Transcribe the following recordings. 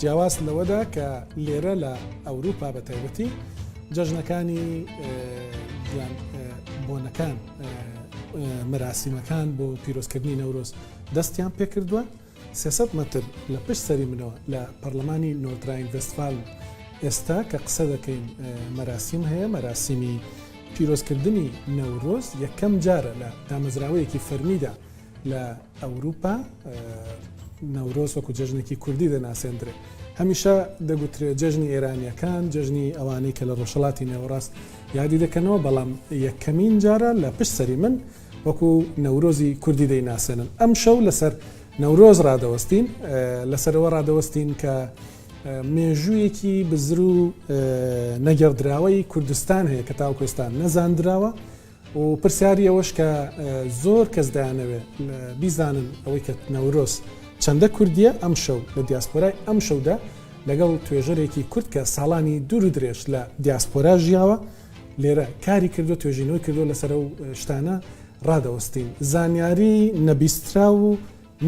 جیاواز لەوەدا کە لێرە لە ئەوروپا بە تایبەتی جەژنەکانی یان بۆنەکان مراسیمەکان بۆ پیرۆزکردنی نەورۆز دەستیان پێکردووە 300 متر لە پشت سەری منەوە لە پەرلەمانی نۆدراین وستفال ئێستا کە قسە دەکەین مەراسیم هەیە مەراسیمی پیرۆزکردنی نەورۆز یەکەم جارە لە دامەزراوەیەکی فەرمیدا لە ئەوروپا نەورۆز وەکو جەژنێکی کوردی دەناسێندرێت هەمیشە دەگوترێت جەژنی ئێرانیەکان جەژنی ئەوانەی کە لە ڕۆژەڵاتی نێوەڕاست یادی دەکەنەوە بەڵام یەکەمین جارە لە پشت سەری من وەکو نەورۆزی کوردی دەیناسێنن ئەم شەو لەسەر نەورۆز ڕادەوەستین لەسەرەوە ڕادەوەستین کە مێژوویەکی بزر و نەگەڕدراوەی کوردستان هەیە کە تاوکوێستان نەزاندراوە و پرسیاری ئەوەش کە زۆر کەس دەیانەوێت بیزانن ئەوەی کە نەورۆز چەندە کوردییە ئەمشەو لە دیاسپۆرای ئەمشەودا لەگەڵ توێژەرێکی کورد کە ساڵانی دوور و درێژ لە دیاسپۆرا ژیاوە لێرە کاری کردو توێژینەوەی کردوە لەسەر ئەو شتانە ڕادەوەستین زانیاری نەبیستراو و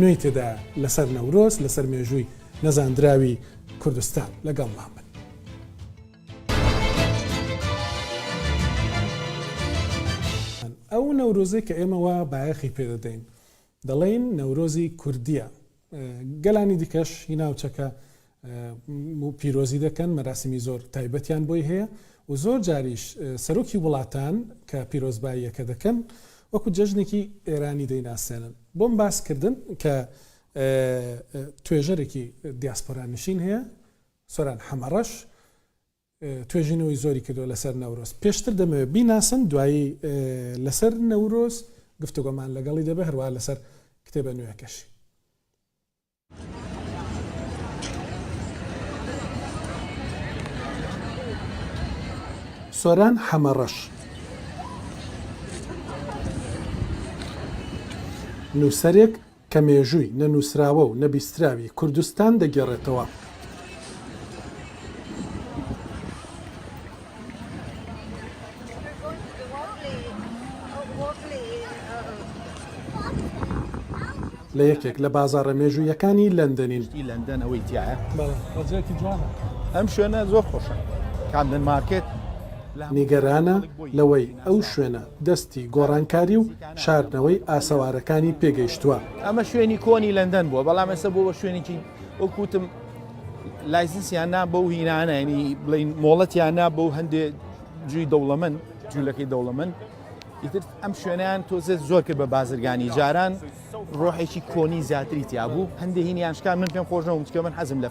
نوێی تێدایە لەسەر نەورۆز لەسەر مێژووی نەزاندراوی کوردستان لەگەڵمان بن. ئەو نەورۆزەی کە ئێمە وا بایەخی پێ دەدەین دەڵێین نەورۆزی کوردییە، گەلانی دیکەش هی ناوچەکە پیرۆزی دەکەن، مەراسیمی زۆر تایبەتیان بۆی هەیە و زۆر جاریش سەرۆکی وڵاتان کە پیرۆزباییەکە دەکەن وەکو جەژنێکی ئێرانی دەیناسێنن. بۆم باسکردن کە توێژەرێکی دیاسپۆرا نشین هەیە، سۆران حەمەڕەش توێژینەوەی زۆری کردووە لەسەر نەورۆز، پێشتر دەمەوێت بیناسم دوایی لەسەر نەورۆز گفتوگۆمان لەگەڵی دەبێت هەروەها لەسەر کتێبە نوێیەکەشی. سۆران حەمەڕەش نووسەرێک کە مێژووی نەنووسراوە و نەبیستراوی کوردستان دەگێڕێتەوە. لە یەکێک لە بازاڕە مێژوویەکانی لەندەنین. شتی لەندەن ئەوەی تایە ڕزێکی جوانە ئەم شوێنە زۆر خۆشە کامدن مارکێت نیگەرانە لەوەی ئەو شوێنە دەستی گۆڕانکاری و شاردنەوەی ئاسەوارەکانی پێگەیشتووە. ئەمە شوێنی کۆنی لەندەن بووە بەڵام ئێستا بۆ بە شوێنێکی وەک وتم لایسنسیان نا بەو هینانە ینی بڵین مۆڵەتیان نا بۆ هەندێ جوی دەوڵەمەند جوولەکەی دەوڵەمەند ئیتر ئەم شوێنیان تۆزێت زۆر کرد بە بازرگانی جاران ڕۆحێکی کۆنی زیاتری تیا بوو هەندێ هینیانشکان من پێم خۆشەوە چکە من حەزم لە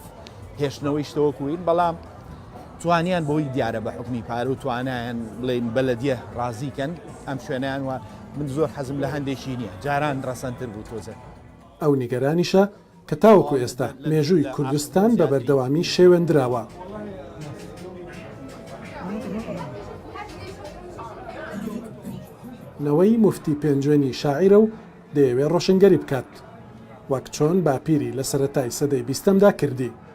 هێشتنەوەی شتەوە کوین بەڵام توانیان بەوەی دیارە بە حوکمی پارە و توانایان بڵێن بەلەدیە ڕازی کەن ئەم شوێنەیان وە من زۆر حەزم لە هەندێکی نییە جاران ڕەسەنتر بوو تۆزێ. ئەو نیگەرانیشە کە تاوەکو ئێستا مێژووی کوردستان بە بەردەوامی شێوێندراوە. نەوەی موفتی پێنجوێنی شاعیرە و دەیەوێ ڕۆشنگەری بکات وەک چۆن باپیری لە سەرەتای سەدەی بیستەمدا کردی.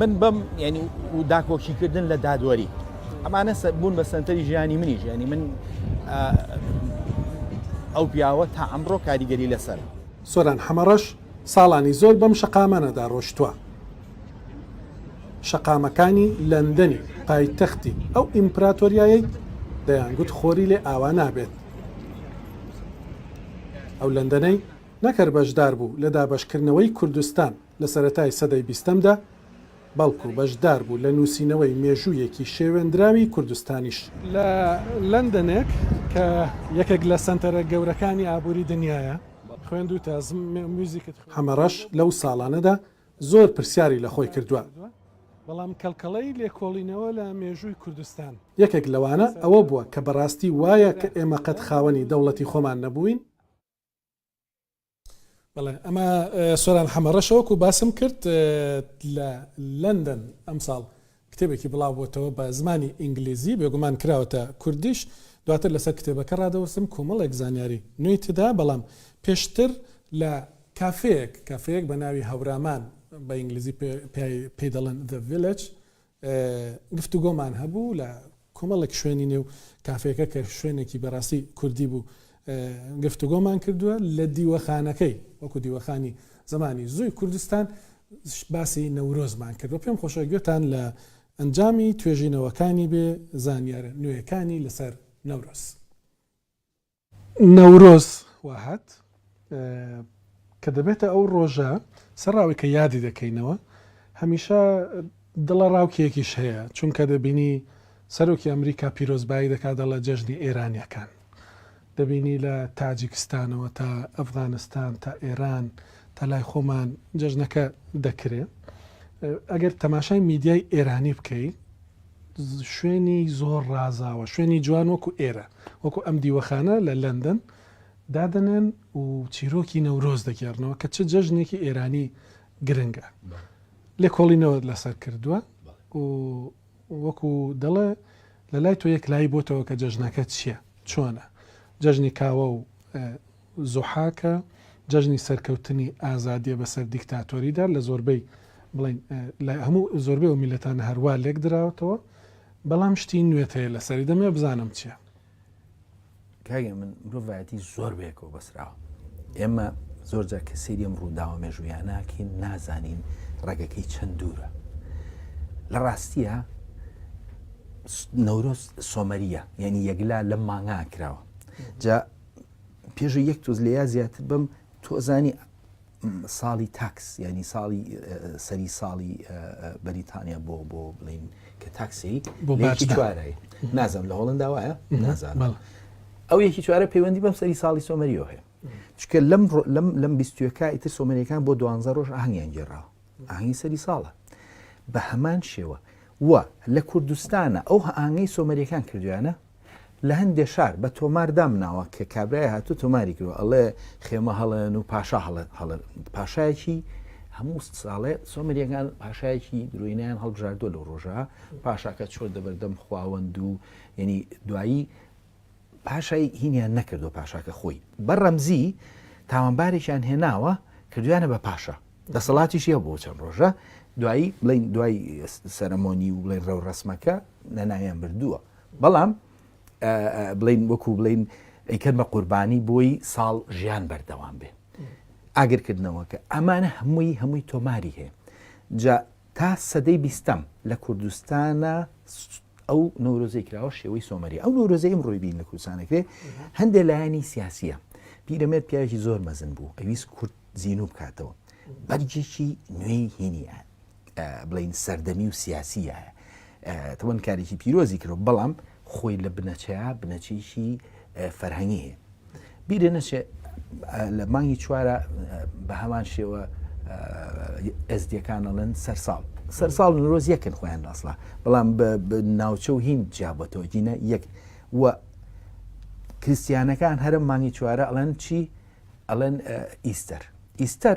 من بەم ینی و داکۆکیکردن لە دادوەری ئەمانە بوون بە سنتەری ژیانی منی ژیانی من ئەو پیاوە تا ئەمڕۆ کاریگەری لەسەر سۆران حەمەڕەش ساڵانی زۆر بەم شەقامانەدا ڕۆشتووە شەقامەکانی لەندەنی پایتەختی ئەو ئیمپراتۆریایەی دەیانگووت خۆری لێ ئاوا نابێت ئەو لەندەنەی نەکەر بەشدار بوو لە دابەشکردنەوەی کوردستان لە سەرەتای سەدەی بیستەمدا، بەڵکو بەشدار بوو لە نووسینەوەی مێژوویەکی شێوێندراوی کوردستانیش. لە لەندەنێک کە یەکێک لە سەنتەرە گەورەکانی ئابووری دنیایە، خوێندووتە. هەمەڕەش لەو ساڵانەدا زۆر پرسیاری لە خۆی کردووە. بەڵام کەڵکەڵەی لێکۆڵینەوە لە مێژووی کوردستان. یەکێک لەوانە ئەوە بووە کە بەڕاستی وایە کە ئێمە قەت خاوەنی دەوڵەتی خۆمان نەبووین؟ بەڵێ ئەمە سۆران حەمە ڕەشە وەکو باسم کرد لە لەندەن ئەمساڵ کتێبێکی بڵاوبووتەوە بە زمانی ئینگلیزی بێگومان کراوەتە کوردیش دواتر لەسەر کتێبەکە ڕادەوەستم کۆمەڵێک زانیاری نوێی تدا بەڵام پێشتر لە کافەیەک کافەیەک بە ناوی هەورامان بە ئینگلیزی پێی دەڵێن The Village گفتوگۆمان هەبوو لە کۆمەڵێک شوێنی نێو کافێکە کە شوێنێکی بەڕاستی کوردی بوو گفتوگۆمان کردووە لە دیوەخانەکەی وەکو دیوەخانی زمانی زووی کوردستان باسی نەورۆزمان کردو پێم خۆشە گوێتان لە ئەنجامی توێژینەوەکانی بێ زانیارە نوێەکانی لەسەر نەورۆز. نەورۆز واهات کە دەبێتە ئەو ڕۆژە سەر ڕاوی کە یادی دەکەینەوە هەمیشە دڵە ڕاوکێکیش هەیە چونکە دەبینی سەرۆکی ئەمریکا پیرۆزبایی دەکات دەڵە جەژنی ئێرانیەکان دەبینی لە تاجیکستانەوە تا ئەفغانستان تا ئێران تا لای خۆمان جەژنەکە دەکرێ ئەگەر تەماشای میدیای ئێرانی بکەی شوێنی زۆر ڕازاوە، شوێنی جوان وەکو ئێرە، وەکو ئەم دیوەخانە لە لەندەن دادەنێن و چیرۆکی نەورۆز دەگێڕنەوە کە چ جەژنێکی ئێرانی گرنگە. لێکۆڵینەوە لەسەر کردووە و وەکو دەڵێ لە لای تۆ یەکلایی بۆتەوە کە جەژنەکە چییە، چۆنە، جەژنی کاوە و زوحاکە جەژنی سەرکەوتنی ئازادیە بەسەر دیکتاتۆریدا لە زۆربەی بڵێین لە هەموو زۆربەی ئەو میللەتانە هەر وا لێک دراوەتەوە بەڵام شتی نوێت هەیە لەسەری دەمێ بزانم چیە. کاگە من مرۆڤایەتی زۆر بەیەکەوە بەسراوە ئێمە زۆر جا کە سری ئەم ڕووداوە مێژوویان ناکەین نازانین ڕێگەکەی چەند دوورە لە ڕاستیە نەورۆز سۆمەریە یعنی یەکلا لە مانگا کراوە جا پێژە یەک تۆز لە یا زیاتر بم تۆزانی ساڵی تاکس ینی ساڵی سەری ساڵی بەریتانیا بۆ بۆ بڵین کە تاکسی بۆ باچی چوارای نازم لە هۆڵندا وایە نازان ئەو یەکی چوارە پەیوەندی بەم سەری ساڵی سۆمەریەوە هەیە چکە لەم لەم لەم بیستوەکە ئیتر سۆمەریەکان بۆ دوانزە ڕۆژ ئاهنگیان گێڕاوە ئاهەنگی سەری ساڵە بە هەمان شێوە و لە کوردستانە ئەو ئاهەنگەی سۆمەریەکان کردویانە لە هەندێ شار بە تۆمار دامناوە کە کابرای هاتو تۆماری کرد ئەڵێ خێمە هەڵێن و پاشا هەڵێ هەڵێن پاشایەکی هەموو ساڵێ سۆمەریەکان پاشایەکی درۆینیان هەڵبژاردووە لە ڕۆژە پاشاکە چۆر دەبەردەم خواوەند و یعنی دوایی پاشای هینیان نەکردوە پاشاکە خۆی بە ڕەمزی تاوانبارێکیان هێناوە کردویانە بە پاشا دەسەڵاتیشی هەبوو بۆ چەند ڕۆژە دوایی بڵین دوای سەرمۆنی و بڵێن ڕەو ڕسمەکە نەناویان بردووە بەڵام بڵین وەکو بڵین ئەیکرد بە قوربانی بۆی ساڵ ژیان بەردەوام بێ ئاگرکردنەوەکە ئەمانە هەمووی هەمووی تۆماری هەیە جا تا سەدەی بیستەم لە کوردستانا ئەو نەورۆزەی کراوە شێوەی سۆمەری ئەو نەورۆزەی ئمڕۆی بین لە کوردستانەکرێ هەندێک لایەنی سیاسیە پیرەمێر پیاوێکی زۆر مەزن بوو ئەویست کورد زیینوو بکاتەوە بەرجێکی نوێی هینیە بڵین سەردەمی و سیاسیە تەوەن کارێکی پیرۆزی کرد بەڵام خۆی لە بنەچەیە بنەچەیەکی فەرهەنگی هەیە بیرێ نەچێ لە مانگی چوارە بە هەمان شێوە ئەزدیەکانەڵێن سەرساڵ سەرساڵ نرۆز یەکن خۆیان ئەسڵا بەڵام ناوچە و هین جیابەتەوە دینە یەک و کریسیانەکان هەرم مانگی چوارە ئەڵەن چی ئەڵەن ئیستەر ئیستەر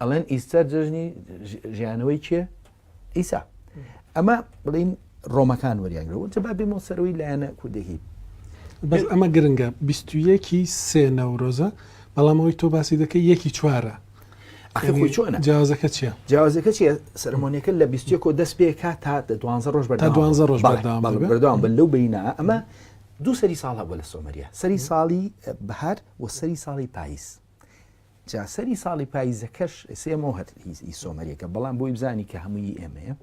ئەڵێن ئیستەر جژنی ژیانەوەی کێ ئیسا ئەمە بڵین ڕۆمەکان وەریانگرەوە چ با بێمەوە سەرەوەی لایەنە کوردێکی بەس ئەمە گرنگە بیستویەکی سێ نەورۆزە بەڵام ئەوی تۆ باسی دەکەی یەکی چوارە چۆن جیازەکە چیە جیازەکە چیە سەرمۆنیەکە لە بیستێک و دەست پێکا تا دوانزە ڕۆژ بە دوانزە ڕۆژ بەردەوام بن لەو بینا ئەمە دوو سەری ساڵ هەبوو لە سۆمەریە سەری ساڵی بەهار و سەری ساڵی پاییز جا سەری ساڵی پاییزەکەش ئێسێ ئەمەوە هەر هیز ئی سۆمەریەکە بەڵام بۆی بزانی کە هەمووی ئێمەیە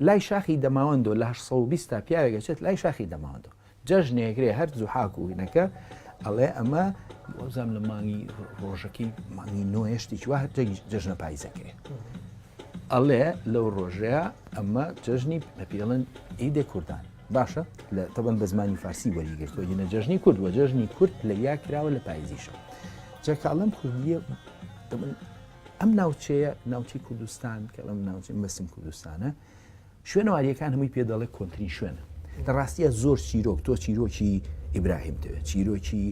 لای شاخی دەماوەندۆ لە 1920 تا پیاوێکەچێت لای شاخی دەماوەندۆ جەژنێکرێ هەر زوحاک و هینەکە ئەڵێ ئەمە وەزام لە مانگی ڕۆژەکەی مانگی نۆێشتی چوە هەتە جەژنە پاییزەکەێ ئەڵێ لەو ڕۆژەیە ئەمە جەژنی بە پێڵن ئیدێ کوردان باشە لە تەبەن بە زمانی فارسی وەریگرتووە یە نەجەژنی کورد وە جەژنی کورد لە یا کراوە لە پایزیشە جاکڵم کوردیە ئەم ناوچەیە ناوچی کوردستان کە ئەم ناوچی مەسم کوردستانە شوێنەواریەکان هەمووی پێ دەڵێ کۆنتترین شوێنە لە ڕاستیە زۆر چیرۆک تۆ چیرۆکی ئیبراهیم دەوێت چیرۆکی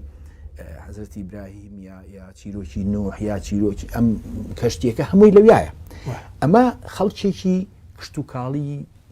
حەزرەتی براهیم یا یا چیرۆکی نۆحیا چیرۆکی ئەم کەشتێکە هەمووی لەویایە ئەمە خەڵکێکی کشتتوکاڵی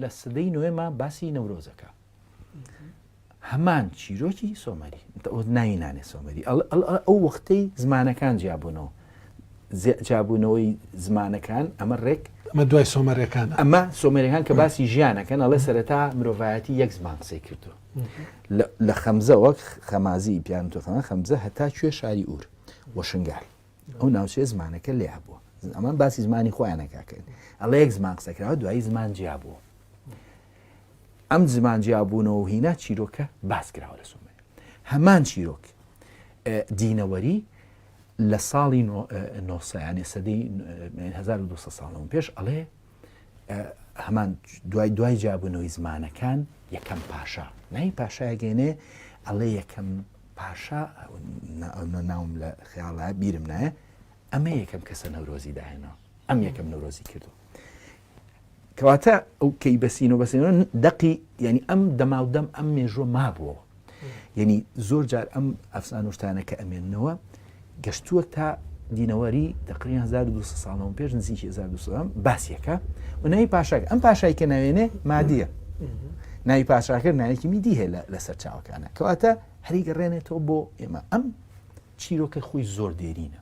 لە سدەی نوێما باسی نەورۆزەکە هەمان چیرۆکی سۆمەری ناوی نانێ سۆمەری ئەو وەختەی زمانەکان جیابوونەوە جابوونەوەی زمانەکان ئەمە ڕێک ئەمە دوای سۆمەرەکان ئەمە سۆمەرەکان کە باسی ژیانەکەن ئەڵێ سەرەتا مرۆڤایەتی یەک زمان قسەی کردو لە خەمزە وەک خەمازی پیان تۆخەمە خەمزە هەتا کوێ شاری ئور وەشنگال ئەو ناوچەیە زمانەکە لێ هەبووە ئەمان باسی زمانی خۆیانە کاکەن ئەڵە یەک زمان قسەکراوە دوایی زمان جیا بووە ئەم زمان جیا بوونەوە هینا چیرۆکە باس کراوە لە سومێ هەمان چیرۆک دینەوەری لە ساڵی نۆسەیانێ سەدەی 1970 ساڵەوە پێش ئەڵێ هەمان دوای دوای جابوونەوەی زمانەکان یەکەم پاشا نای پاشایگەێنێ ئەڵێ یەکەم پاشا ناوم لە خیاڵە بیرم نایە ئەمە یەکەم کەسە نەورۆزی داهێنەوە ئەم یەکەم نەورۆزی کردو کەواتە ئەو کەی بەسین و بەسێنەوە دەقی ینی ئەم دەماودەم ئەم مێژوە مابووەوە یعنی زۆر جار ئەم ئەفسانوشتانە کە ئەمێنەوە گەشتووە تا دینەوەری دەقی 1200 ساڵەوە پێش نزیک 1200 باسیەکە و ناوی پاشاک ئەم پاشای کە ناوێنێ مادیە ناوی پاشاکە نایەکی میدی هەیە لە سەر چاوەکانە کەواتە هەری گەڕێنێتەوە بۆ ئێمە ئەم چیرۆکە خۆی زۆر دێرینە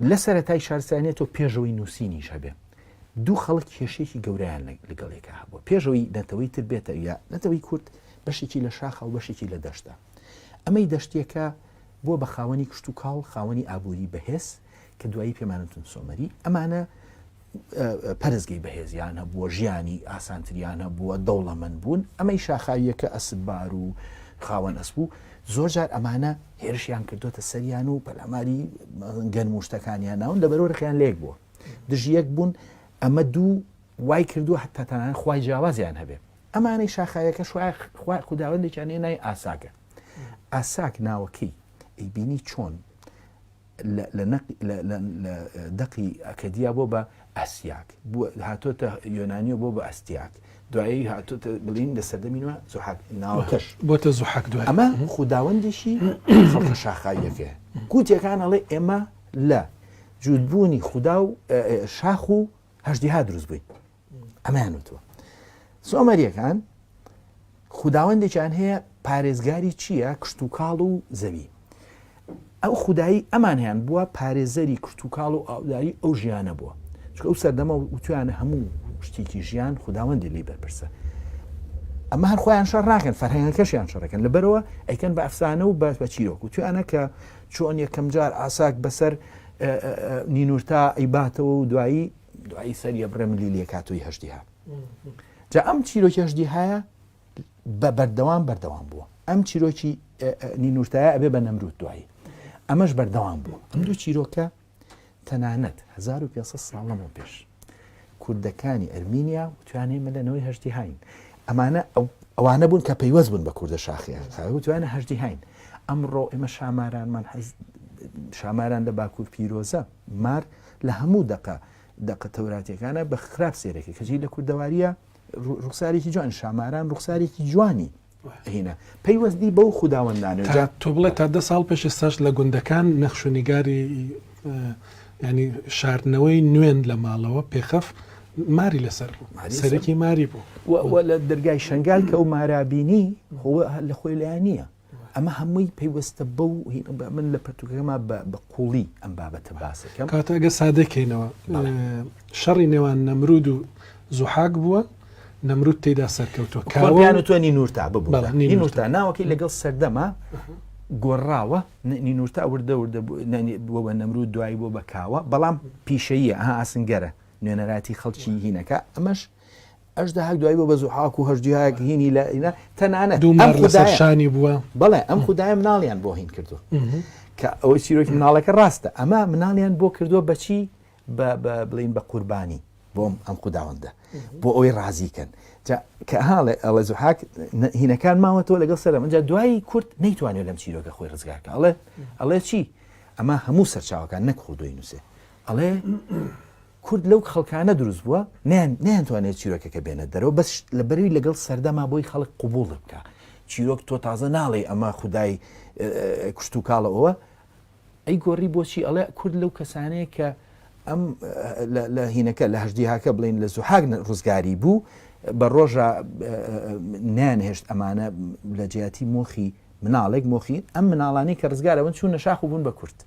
لە سەرەتای شارستانیەت و پێشەوەی نووسینیش هەبێ دوو خەڵک کێشێکی گەوریان لەگەڵێکا هەبوو پێشەوەی نەتەوەی تر بێتە یا نەتەوەی کورد بەشێکی لە شاخە و بەشێکی لە دەشتا ئەمەی دەشتێکە بۆ بە خاوەنی کشت و کاڵ خاوەنی ئابووری بەهێز کە دوایی پێمانتون سۆمەری ئەمانە پەرستگەی بەهێزیان هەبووە، ژیانی ئاسانتریان هەبووە، دەوڵەمەند بوون، ئەمەی شاخاوییەکە ئەسپبار و خاوەن ئەسپ و زۆرجار ئەمانە هێرشیان کردۆتە سەریان و پەلاماری گەنم و شتەکانیان ناون لەبەرو رقیان لەیەک بووە دژ یەک بوون ئەمە دوو وای کردووە حتا تەنانەت خوای جیاوازیان هەبێ ئەمانەی شاخاویەکە خوای خوداوەندێکیان هێنای ئاساکە ئاساک ناوەکەی ئەیبینی چۆن لە دەقی ئەکەدیا بۆ بە ئەسیاک، هاتۆتە یۆنانیەوە بۆ بە ئەستیاک، دوایی هاتۆتە بلین لە سەردەمی نوێ زوحاک ناوەکەش بۆتە زوحاک دوای ئەمە خوداوەندێکی خەڵکە شاخاویەکەیە کوتیەکان ئەڵێ ئێمە لە جووت بوونی خودا و شاخ و هەژدیها دروست بووین. ئەمەیان وتووە سۆمەریەکان خوداوەندێکیان هەیە پارێزگاری چییە کشت و کاڵ و زەوی ئەو خودایی ئەمان هەیان بووە پارێزەری کشت و کاڵ و ئاوداری ئەو ژیانە بووە چکە ئەو سەردەمە وتویانە هەموو شتێکی ژیان خوداوەندی لی بەرپرسە ئەمە هەر خۆیان شەر ناکەن فەرهەنگەکەشیان شەڕەکەن لەبەرەوە ئەیکەن بە ئەفسانە و باس بە چیرۆک و توانە کە چۆن یەکەم جار ئاساک بەسەر نینورتا ئەیباتەوە و دوایی دوایی سەری ئەبڕێ ملی لێکاتۆی هەژدیها جا ئەم چیرۆکی هەژدیهایە بە بەردەوام بەردەوام بووە ئەم چیرۆکی نینورتایە ئەبێ بە نەمرود دوایی ئەمەش بەردەوام بوو ئەم دوو چیرۆکە تەنانەت 1500 ساڵەمەوە پێش کوردەکانی ئەرمینیا توانێ مەلەنەوەی هەشتی هاین ئەمانە ئەوانە بوون کە پەیوەست بوون بە کوردە شاخیان توانە هەشتی هاین ئەمڕۆ ئێمە شامارانمان حەز شاماران لە باکوور پیرۆزە مار لە هەموو دەقە دەقە تەوراتیەکانە بە خراپ سێرەکە کەجی لە کوردەواریە ڕوخسارێکی جوان شاماران ڕوخسارێکی جوانی هینە پەیوەستی بەو خودداوەندانەجا تۆ بڵێت تا دە ساڵ پێش ساش لە گوندەکان نەخشونیگاری ینی شاردنەوەی نوێن لە ماڵەوە پێخەف ماری لەسەر بوو سەرەکی ماری بوو لە دەرگای شنگال کە ئەو مارابینی خۆ لە خۆی لایە نییە ئەمە هەمووی پەیوەستە بەو من لە پرتوکەکەما بە قوڵی ئەم بابەتە باسەکەم کاتەگە سادەکەینەوە شەڕی نێوان نەمرود و زوحاک بووە نەمرود تێدا سەرکەوتوە کاوان و تۆنی نورتا ببوونی نورتا ناوەکەی لەگەڵ سەردەما گۆڕاوە نینورتا وردە وردە بۆ بە نەمرود دوایی بۆ بەکاوە بەڵام پیشەیە ئەها ئاسنگەرە نوێنەراتی خەڵکی هینەکە ئەمەش ئەژدەهاک دوای بۆ بە زوحاک و هەژدیهاک هینی لە ئینا تەنانەت دوو مار لە سەرشانی بووە بەڵێ ئەم خدای مناڵیان بۆ هین کردو کە ئەوەی چیرۆکی مناڵەکە ڕاستە ئەمە مناڵیان بۆ کردووە بەچی بڵین بە قوربانی بۆم ئەم خودداوەندە بۆ ئەوەی ڕازیکەن کە هاڵێ ئەڵە زوحاک هینەکان ماوەتەوە لەگەڵ سەرم ئەجا دوایی کورت نەیتوانێت لەم چیرۆکە خۆی ڕزگارکە ئەڵێ ئەڵێ چی ئەمە هەموو سەرچاوەکان نەکخۆ دوی نووسێ ئەڵێ کورد لەو خەڵکانە دروست بووە نەیانتوانێت چیرۆکەکە بێنە دەرەوە بەس لەبەروی لەگەڵ سەردەما بۆی خەڵک قوبوڵی بکە چیرۆک تۆ تازە ناڵێ ئەمە خودای کوشت و کاڵە ئەوە ئەی گۆڕی بۆچی ئەڵێ کورد لەو کەسانەیە کە ئەم لە هینەکە لە هەشدیهاکە بڵین لە زوحاک ڕزگاری بوو بە ڕۆژە نانهێشت ئەمانە لە جیاتی مۆخی مناڵێک مۆخی ئەم مناڵانی کە ڕزگارەوەن چوون نەشاخ بوون بە کورد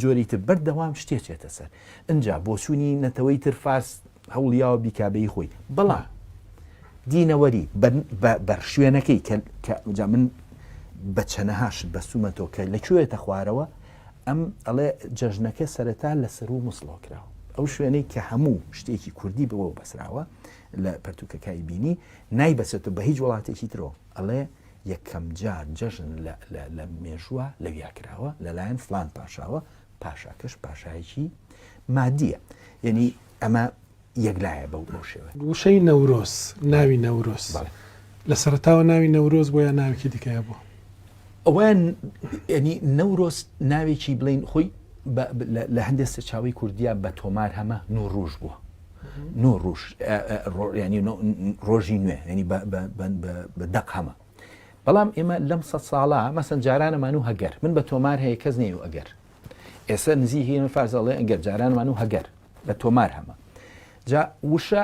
جۆری تر بەردەوام شتێ چێتە سەر ئنجا بۆچوونی نەتەوەی تر فارس هەوڵیاوە بیکابەی خۆی بەڵا دینەوەری بەر شوێنەکەی کە جا من بە چەنەهاشت بەسوومە تۆ کە لە کوێتە خوارەوە ئەم ئەڵێ جەژنەکە سەرەتا لە سەر و مسڵۆ کراوە ئەو شوێنەی کە هەموو شتێکی کوردی بەوە بەسراوە لە پەرتوکەکای بینی نایبەسێتە بە هیچ وڵاتێکی ترۆ ئەڵێ یەکەم جار جەژن لە مێژووە لەویا کراوە لەلایەن فلان پاشاوە پاشاکەش پاشایەکی مادیە یعنی ئەمە یەکلایە بەو بۆ شێوە وشەی نەورۆز ناوی نەورۆز لە سەرتاوە ناوی نەورۆز بۆ یا ناوێکی دیکەیە بوو ئەویان ینی نەورۆز ناوێکی بڵین خۆی لە هەندێک سەرچاوی کوردیا بە تۆمار هەمە نوڕژ بووە نۆ ڕوژ ڕۆیانی ڕۆژی نوێ ینی بە دەق هەمە بەڵام ئێمە لەم سە ساڵە مەسەن جارانەمان و هەگەر من بە تۆمار هەیە کەس نێ و ئەگەر ئێستا نزی هەیە من فارزەڵێ ئەگەر جارانمان و هەگەر بە تۆمار هەمە جا وشە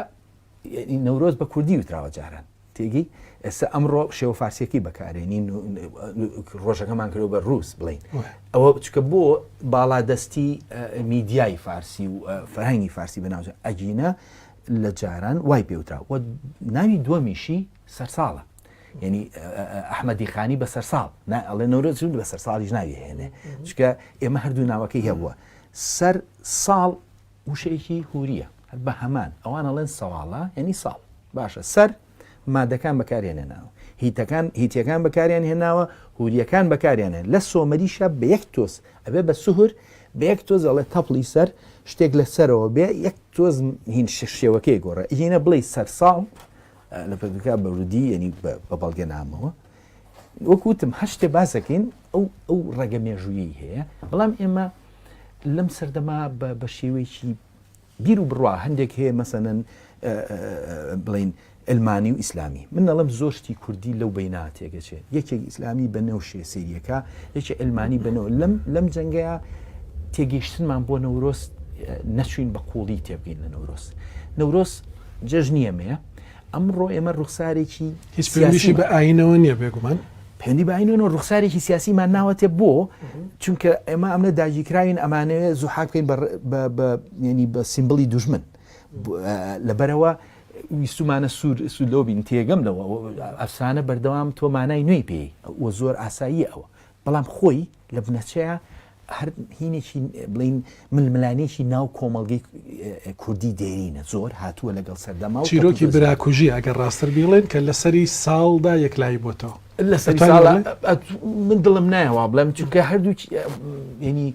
نەورۆز بە کوردی وتراوە جاران تێگەی؟ ئێستا ئەمڕۆ شێوە فارسیەکەی بەکارێنین و ڕۆژەکەمان کردوە بە ڕووس بڵین ئەوە بچکە بۆ باڵادەستی میدیای فارسی و فەرهەنگی فارسی بەناوجە ئەگینە لە جاران وای پێوترا و ناوی دووەمیشی سەرساڵە یعنی ئەحمەدی خانی بە سەرساڵ ئەڵێ نەورۆ جون بە سەرساڵیش ناوی هێنێ چکە ئێمە هەردوو ناوەکەی هەبووە سەر ساڵ وشەیەکی هوریە هەر بە هەمان ئەوان ئەڵێن سەواڵە یانی ساڵ باشە سەر مادەکان بەکاریان هێناوە هیتەکان هیتیەکان بەکاریان هێناوە هوریەکان بەکاریان هێن لە سۆمەریشە بە یەک تۆز ئەبێ بە سوهر بە یەک تۆز ئەڵێ تەپڵی سەر شتێک لە سەرەوە بێ یەک تۆز هین شێوەکەی گۆڕە هینە بڵێ سەرساڵ لە پردوکە بەرودی یعنی بە بەڵگە نامەوە وەکو وتم هەر شتێ باس دەکەین ئەو ئەو ڕێگە مێژوویی هەیە بەڵام ئێمە لەم سەردەما بە شێوەیەکی بیر و بڕوا هەندێک هەیە مەسەنەن بڵین ئەلمانی و ئیسلامی من نەڵم زۆشتی کوردی لەو بیناتێگەچێت یەکێک ئیسلامی بە نەوشێ سریەکە یەکێ ئەلمانی بنەوە لەم لەم جەنگەیە تێگەیشتنمان بۆ نەورۆست نەچوین بە قوڵی تێبگەین لە نەورۆست نەورۆس جەژنیەمەیە ئەمڕۆ ئێمە ڕوخسارێکی هیچ پێویشی بە ئاینەوە نییە بێگومان پێندی باینەوە ڕوخسارێکی سیاسیمان ناوەتێ بۆ چونکە ئێمە ئەمە داگیرکراوین ئەمانەوێت زوحاک بکەین ینی بە سیمبلی دوژمن لەبەرەوە ویستمانە سوور سولۆبین تێگەم لەوە ئەفسانە بەردەوام تۆمانای نوێی پێی وە زۆر ئاسایی ئەوە بەڵام خۆی لە بنەچەیا هەر هینێکی بڵین ململانێکی ناو کۆمەڵگەی کوردی دێرینە زۆر هاتووە لەگەڵ سەردەما و چیرۆکی براکوژی ئەگەر ڕاستتر بیڵێن کە لەسەری ساڵدا یەکلایی بۆتەوە لەسەری من دڵم نایەوە بڵێم چونکە هەردوو ینی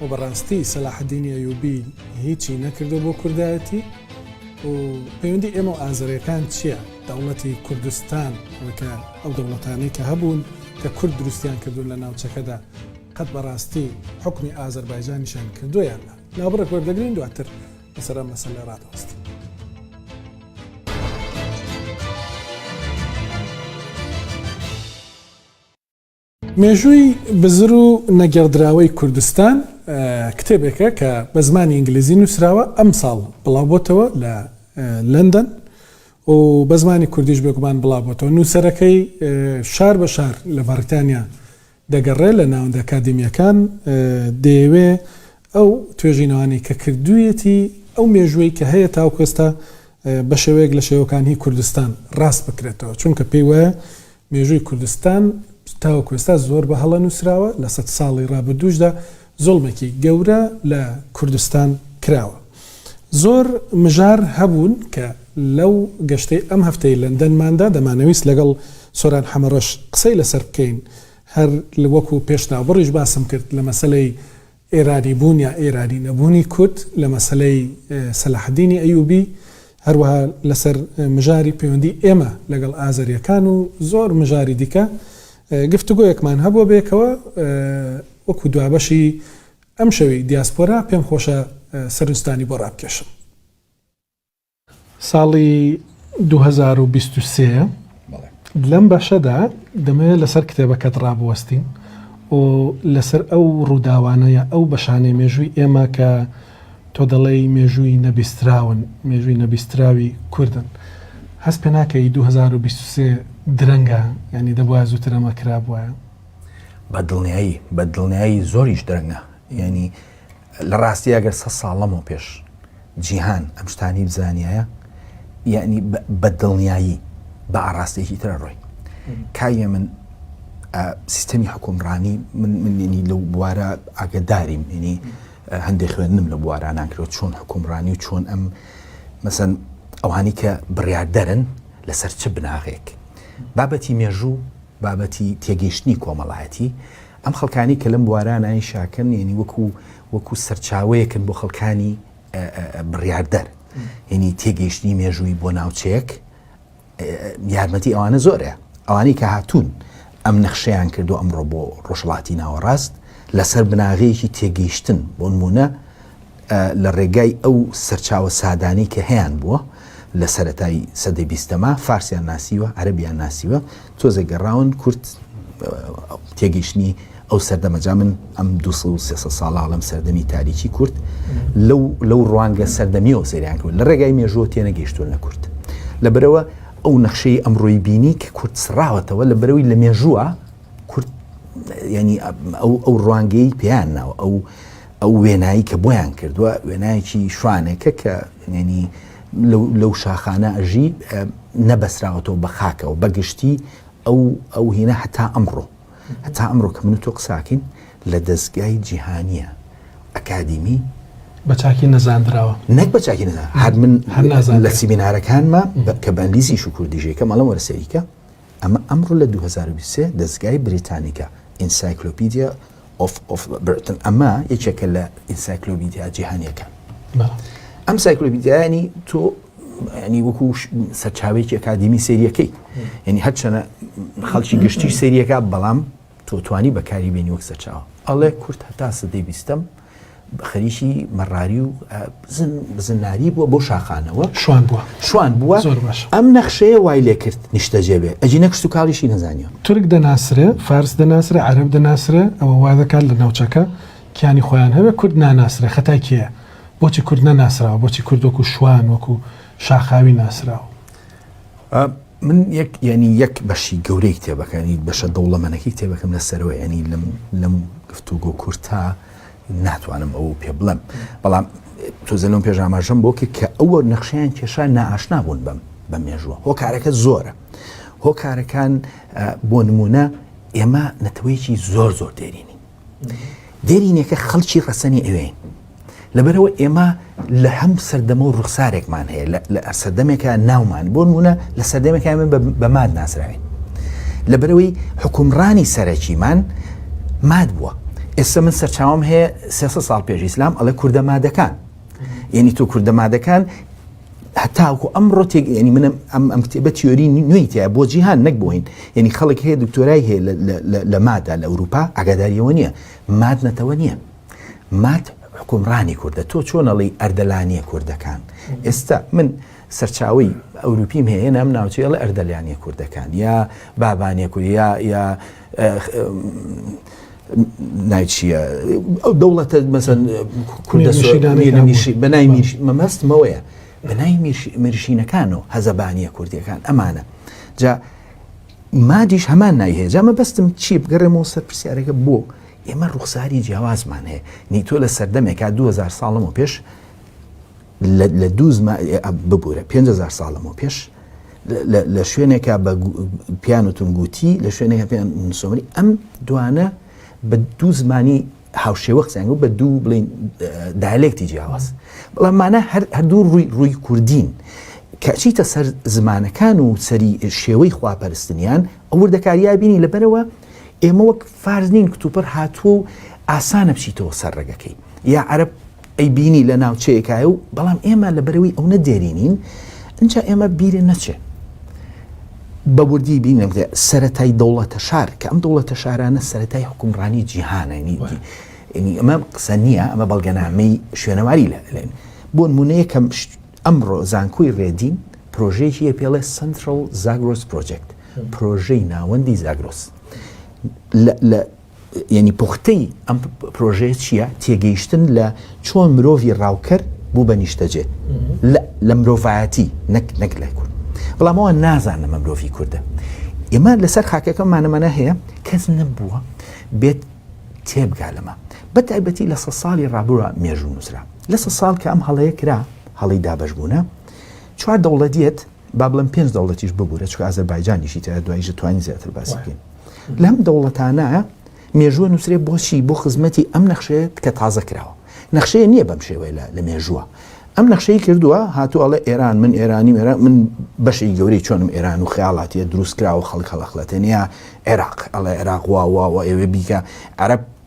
و بەڕاستی سەلاحەدینی ئەیوبی هیچی نەکردوە بۆ کوردایەتی و پەیوەندی ئێمە و ئازەرێکان چیە دەوڵەتی کوردستان وەکە ئەو دەوڵەتانەی کە هەبوون کە کورد دروستیان کردون لە ناوچەکەدا قەت بەڕاستی حوکمی ئازەربایجانیشان کردوە یان نا ناوبڕێک وەردەگرین دواتر لەسەر ئەم مەسەلە ڕادەوەستین. مێژووی بزر و نەگێڕدراوەی کوردستان کتێبێکە کە بە زمانی ئینگلیزی نووسراوە، ئەمساڵ بڵاوبۆتەوە لە لەندەن و بە زمانی کوردیش بێگومان بڵاوبۆتەوە. نووسەرەکەی شار بە شار لە بەڕیتانیا دەگەڕێ لە ناوەندە ئەکادیمییەکان دەیەوێ ئەو توێژینەوانەی کە کردوویەتی ئەو مێژووەی کە هەیە تاوەکو ئێستا بە شێوەیەک لە شێوەکان هی کوردستان ڕاست بکرێتەوە چونکە پێی وایە مێژووی کوردستان تاوەکو ئێستا زۆر بە هەڵە نووسراوە لە سەد ساڵی ڕابردووشدا زوڵمێکی گەورە لە کوردستان کراوە. زۆر مژار هەبوون کە لەو گەشتەی ئەم هەفتەی لەندەنماندا دەمانەویست لەگەڵ سۆران حەمەڕەش قسەی لەسەر بکەین هەر وەکو پێشناوبڕیش باسم کرد لە مەسەلەی ئێرانی بوون یا ئێرانی نەبوونی کورد لە مەسەلەی سەلاحەدینی ئەیوبی، هەروەها لەسەر مژاری پەیوەندی ئێمە لەگەڵ ئازەریەکان و زۆر مژاری دیکە گفتوگۆیەکمان هەبووە بەیەکەوە وەکو دوابەشی ئەمشەوی دیاسپۆرا پێمخۆشە سەرنجتانی بۆ ڕابکێشم. ساڵی دوو هەزار و بیست و سێ لەم بەشەدا دەمەوێت لەسەر کتێبەکەت ڕابوەستین و لەسەر ئەو ڕووداوانەیە ئەو بەشانەی مێژووی ئێمە کە تۆ دەڵێی مێژووی نەبیستراون مێژووی نەبیستراوی کوردن هەست پێ ناکەی دوو هەزار و بیست و سێ درەنگە یانی دەبوایە زووتر ئەمە کرابوایە. بە دڵنیایی بە دڵنیایی زۆریش درەنگە یانی لە ڕاستییا گەر سەد ساڵ لەمەو پێش جیهان ئەم شتانەی بزانیایە یانی بە دڵنیایی بە ئاڕاستێکی ترە ڕۆی کاویە من سیستەمی حکومڕانی من منێنی لەو بوارە ئاگداریم ینی هەندێک خوێندنم لە بوارانانکرەوە چۆن حکومڕانی و چۆن ئەم مەسەن ئەوانی کە بڕاردەرن لەسەر چ بناغێک بابەتی مێژوو بابەتی تێگەیشتنی کۆمەڵایەتی ئەم خەڵکانەی کە لەم بوارانە ئیشاکەن یەنی وەکو وەکو سەرچاوەیەکن بۆ خەڵکانی بڕیاردەر یەنی تێگەیشتنی مێژووی بۆ ناوچەیەک یارمەتی ئەوانە زۆرە ئەوانەی کە هاتوون ئەم نەخشەیان کردو ئەمڕۆ بۆ ڕۆژڵاتی ناوەڕاست لەسەر بناغەیەکی تێگەیشتن بۆ نمونە لە ڕێگای ئەو سەرچاوە سادانەی کە هەیان بووە لە سەرەتای سەدەی بیستەما فارسیان ناسیوە، عەرەبیان ناسیوە، تۆزێ گەڕاون کورد تێگەیشتنی ئەو سەردەمە جا من ئەم دو سەد و سێ سەد ساڵە هەڵەم سەردەمی تاریکی کورد لەو لەو ڕوانگە سەردەمیەوە سەیریان کردووە لە ڕێگای مێژووە تێنەگەیشتوون لە کورد لەبەرەوە ئەو نەخشەی ئەمڕۆی بینی کە کورد سڕاوەتەوە لە بەرەوەی لە مێژووە کورد ینی ئەو ئەو ڕوانگەی پێیان ناوە ئەو ئەو وێنایی کە بۆیان کردوە وێنایەکی شوانێکە کە یەنی لەو شاخانە ئەژی نەبەسراوەتەوە بە خاکەوە بەگشتی ئەو ئەو هینە هەتا ئەمڕۆ هەتا ئەمڕۆ کە من تۆ قساکەین لە دەستگای جیهانیە ئەکادیمی بە چاکی نەزانراوە نەک بە چاکی نەزان هەر من هەر نازان لە سیمینارەکانمە کە بەنگلیزی شو کوردیژێکە مەڵە وەرسەریکە ئەمە ئەمڕۆ لە 2023 دەستگای بریتانیکە ئینسایکلۆپیدیا of of Britain ئەمە یەکێکە لە ئینسایکلۆبیدیا جیهانیەکان ئەم سایکلۆبیدیانی تۆ ینی وەکو سەرچاوێکی ئەکادیمی سریەکەی یعنی هەرچەنە خەڵکی گشتی سریەکە بەڵام تۆتوانی بەکاری بێنی وەک سەرچاوە ئەڵێ کورت هەتا سەدەی بیستم خەریکی مەڕاری و بزن بزناری بووە بۆ شاخانەوە شوان بووە شوان بووە زۆر باش ئەم نەخشەیە وای لێ کرد نیشتەجێ بێ ئەجی نەکشت و کاڵیشی نەزانیەوە تورک دەناسرێ فارس دەناسرێ عەرەب دەناسرێ ئەوە وا دەکات لە ناوچەکە کیانی خۆیان هەبێ کورد ناناسرێ خەتای کێیە بۆچی کورد نەناسراوە بۆچی کورد وەکو شوان وەکو شاخاوی ناسراوە من یەک ینی یەک بەشی گەورەی کتێبەکانی بەشە دەوڵەمەنەکەی کتێبەکەم لە سەرەوە ینی لەم لەم گفتوگۆ کورتە ناتوانم ئەوە پێ بڵێم بەڵام تۆزە لەم پێش ئاماژەم بۆ کرد کە ئەوە نەخشیان کێشا ناشنا بوون بم بە مێژووە هۆکارەکە زۆرە هۆکارەکان بۆ نمونە ئێمە نەتەوەیەکی زۆر زۆر دێرینی دێرینەکە خەڵکی ڕەسەنی ئەوێین لەبەرەوە ئێمە لە هەم سەردەمە و ڕوخسارێکمان هەیە لە سەردەمێکە ناومان بۆ نمونە لە سەردەمێکە من بە ماد ناسراوین لە بەرەوەی حکومڕانی سەرەکیمان ماد بووە ئێستا من سەرچاوم هەیە سێ ساڵ پێش ئیسلام ئەڵێ کووردە مادەکان یعنی تۆ کووردە مادەکان هەتاوکو ئەم ڕۆتێک ینی منم ئەم ئەم کتێبە تیۆری نوێی تیا بۆ جیهان نەک بۆین یعنی خەڵک هەیە دکتۆرای هەیە لە مادا لە ئەوروپا ئەگاداریەوە نییە ماد نەتەوە نییە مات حکومڕانی کوردە تۆ چۆن ئەڵی ئەردەلانیە کوردەکان ئێستا من سەرچاوی ئەوروپیم هەیە نام ناوچەی ئەڵ ئەردەلیانە کوردەکان یا بابانە کوریا یا نایچیە ئەو دەوڵەتە مەسەن کوردەشی بەنای مەمەستمەوەیە بەنای مرشینەکان و هەزەبانیە کوردیەکان ئەمانە جا مادیش هەمان نایهێجا مەبەستم چی بگەڕێمەوە سەر پرسیارەکە بۆ ئێمە ڕوخساری جیاوازمان هەیە، نیتۆ لە سەردەمێکا دوو هەزار ساڵ لەمەو پێش لە دوو زمان ببورە پێنج هەزار ساڵ لەمەو پێش لە شوێنێکا بە پیان و تونگوتی لە شوێنێکە پێیان سۆمری ئەم دوانە بە دوو زمانی هاوشێوە قسەنگ و بە دوو بڵین دایلێکتی جیاواز بەڵاممانە هەردوو ڕووی ڕووی کوردین کەچیتە سەر زمانەکان و سەری شێوەی خواپەرستنیان ئەوردەکاریابینی لەبەرەوە ئێمە وەک فارس نین کتوپڕ هاتووە و ئاسانە بچیتەوە سەر ڕێگەکەی یا عەرب ئەی بینی لە ناوچەیەکایە و بەڵام ئێمە لە بەرەوەی ئەو نەدێرینین اینجا ئێمە بیرێ نەچێ بە وردی بینم سەتای دەوڵەتە شار کە ئەم دەوڵەتە شارانە سەتای حکومڕانی جیهانەنی ئەمە قسە نییە ئەمە بەڵگەنامەی شوێنەواری لە بۆن مونەیەکەم ئەمڕۆ زانکۆی رێدین پرۆژەیەکی هەیە پێڵێ Central Zagros Project پرۆژەی ناوەندی زاگرۆس لە لە یعنی پوختەی ئەم پرۆژەیە چییە تێگەیشتن لە چۆن مرۆڤی ڕاوکەر بوو بە نیشتەجێ لە مرۆڤایەتی نەک نەک لای کورد بەڵامەوە نازانە مە مرۆڤی کووردە ئێمە لەسەر خاکەکەمانەمانە هەیە کەس نەبووە بێت تێبگا لەمە بە تایبەتی لە سە ساڵی ڕابووە مێژوو نووسرا لە سە ساڵ کە ئەم هەڵەیە کرا، هەڵەی دابەشبوونە، چوار دەوڵەت یەت، با بڵێم پێنج دەوڵەتیش ببوورە، چونکە ئازەربایجانیشی تیایە، دواییش دەتوانین زیاتر باسی بکەین. لەم دەوڵەتانە مێژووە نووسرێ بۆچی؟ بۆ خزمەتی ئەم نەخشەیە کە تازە کراوە. نەخشەیە نییە بەم شێوەیە لە لە مێژووە. ئەم نەخشەی کردووە، هاتووە ئەڵێ ئێران، من ئێرانیم، ئێران، من بەشێکی گەورەی چۆنم ئێران و خەیاڵاتییە دروست کراوە، خەڵک هەڵئەخڵەتێنێ، یا عێراق، ئەڵێ عێراق وا وا وا ئێوێ بیکە، عەرەب،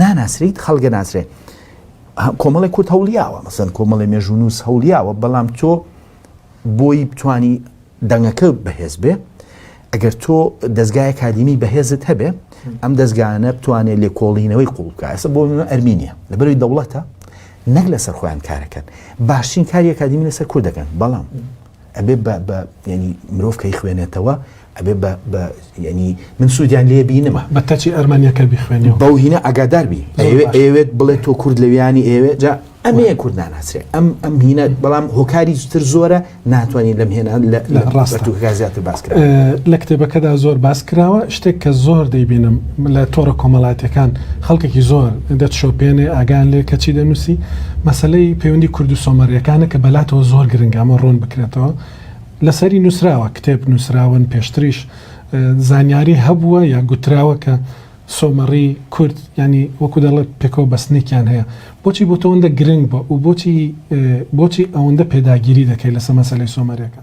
ناناسریت خەڵگە ناسرێ کۆمەڵی کورد هەولیاوە مەسەن کۆمەڵی مێژونووس هەولیاوە بەڵام تۆ بۆی بتانی دەنگەکە بەهێز بێ ئەگەر تۆ دەستگای کادیمی بەهێزت هەبێ ئەم دەستگانە بتوانێت لێکۆڵینەوەی قوڵکە ئەسە بۆ ئەرمینە لە بەروی دەوڵەتە نەک لەسەر خۆیان کارەکەن باشترین کاری کادیمی لەسەر کور دەکەن بەڵام ئەبێ بە بە یەنی مرۆڤ کەی خوێنێتەوە ئەبێ بە بە یەنی من سوودیان لێ بینمە بە کەچی ئەرمەنیەکە بیخوێنی بەو هینە ئەگادار بی ئەوێت بڵێت تۆ کورد لە ویانی ئێوێ جا ئەمەیە کورد ناناسرێ ئەم ئەم هینە بەڵام هۆکاری زوتر زۆرە ناتوانین لەم هێنا لە ڕاستە زیاتر باس کرد لە کتێبەکەدا زۆر باس کراوە شتێک کە زۆر دەیبینم لە تۆڕە کۆمەڵاتیەکان خەڵکێکی زۆر دەت شۆپێنێ ئاگان لێ کەچی دەنووسی مەسلەی پەیوەندی کوردو سۆمەریەکانە کە بەلاتەوە زۆر گرنگامە ڕوون بکرێتەوە لەسەری نووسراوە کتێب نووسراون پێشتریش زانیاری هەبووە یا گوتراوە کە سۆمەڕی کورد ینی وەکو دەڵێ پێکەوە بەستنێکیان هەیە بۆچی بۆ تۆندە گرنگ بە و بۆچی بۆچی ئەوەندە پێداگیری دەکەی لەسە مەسلەی سۆمەریەکە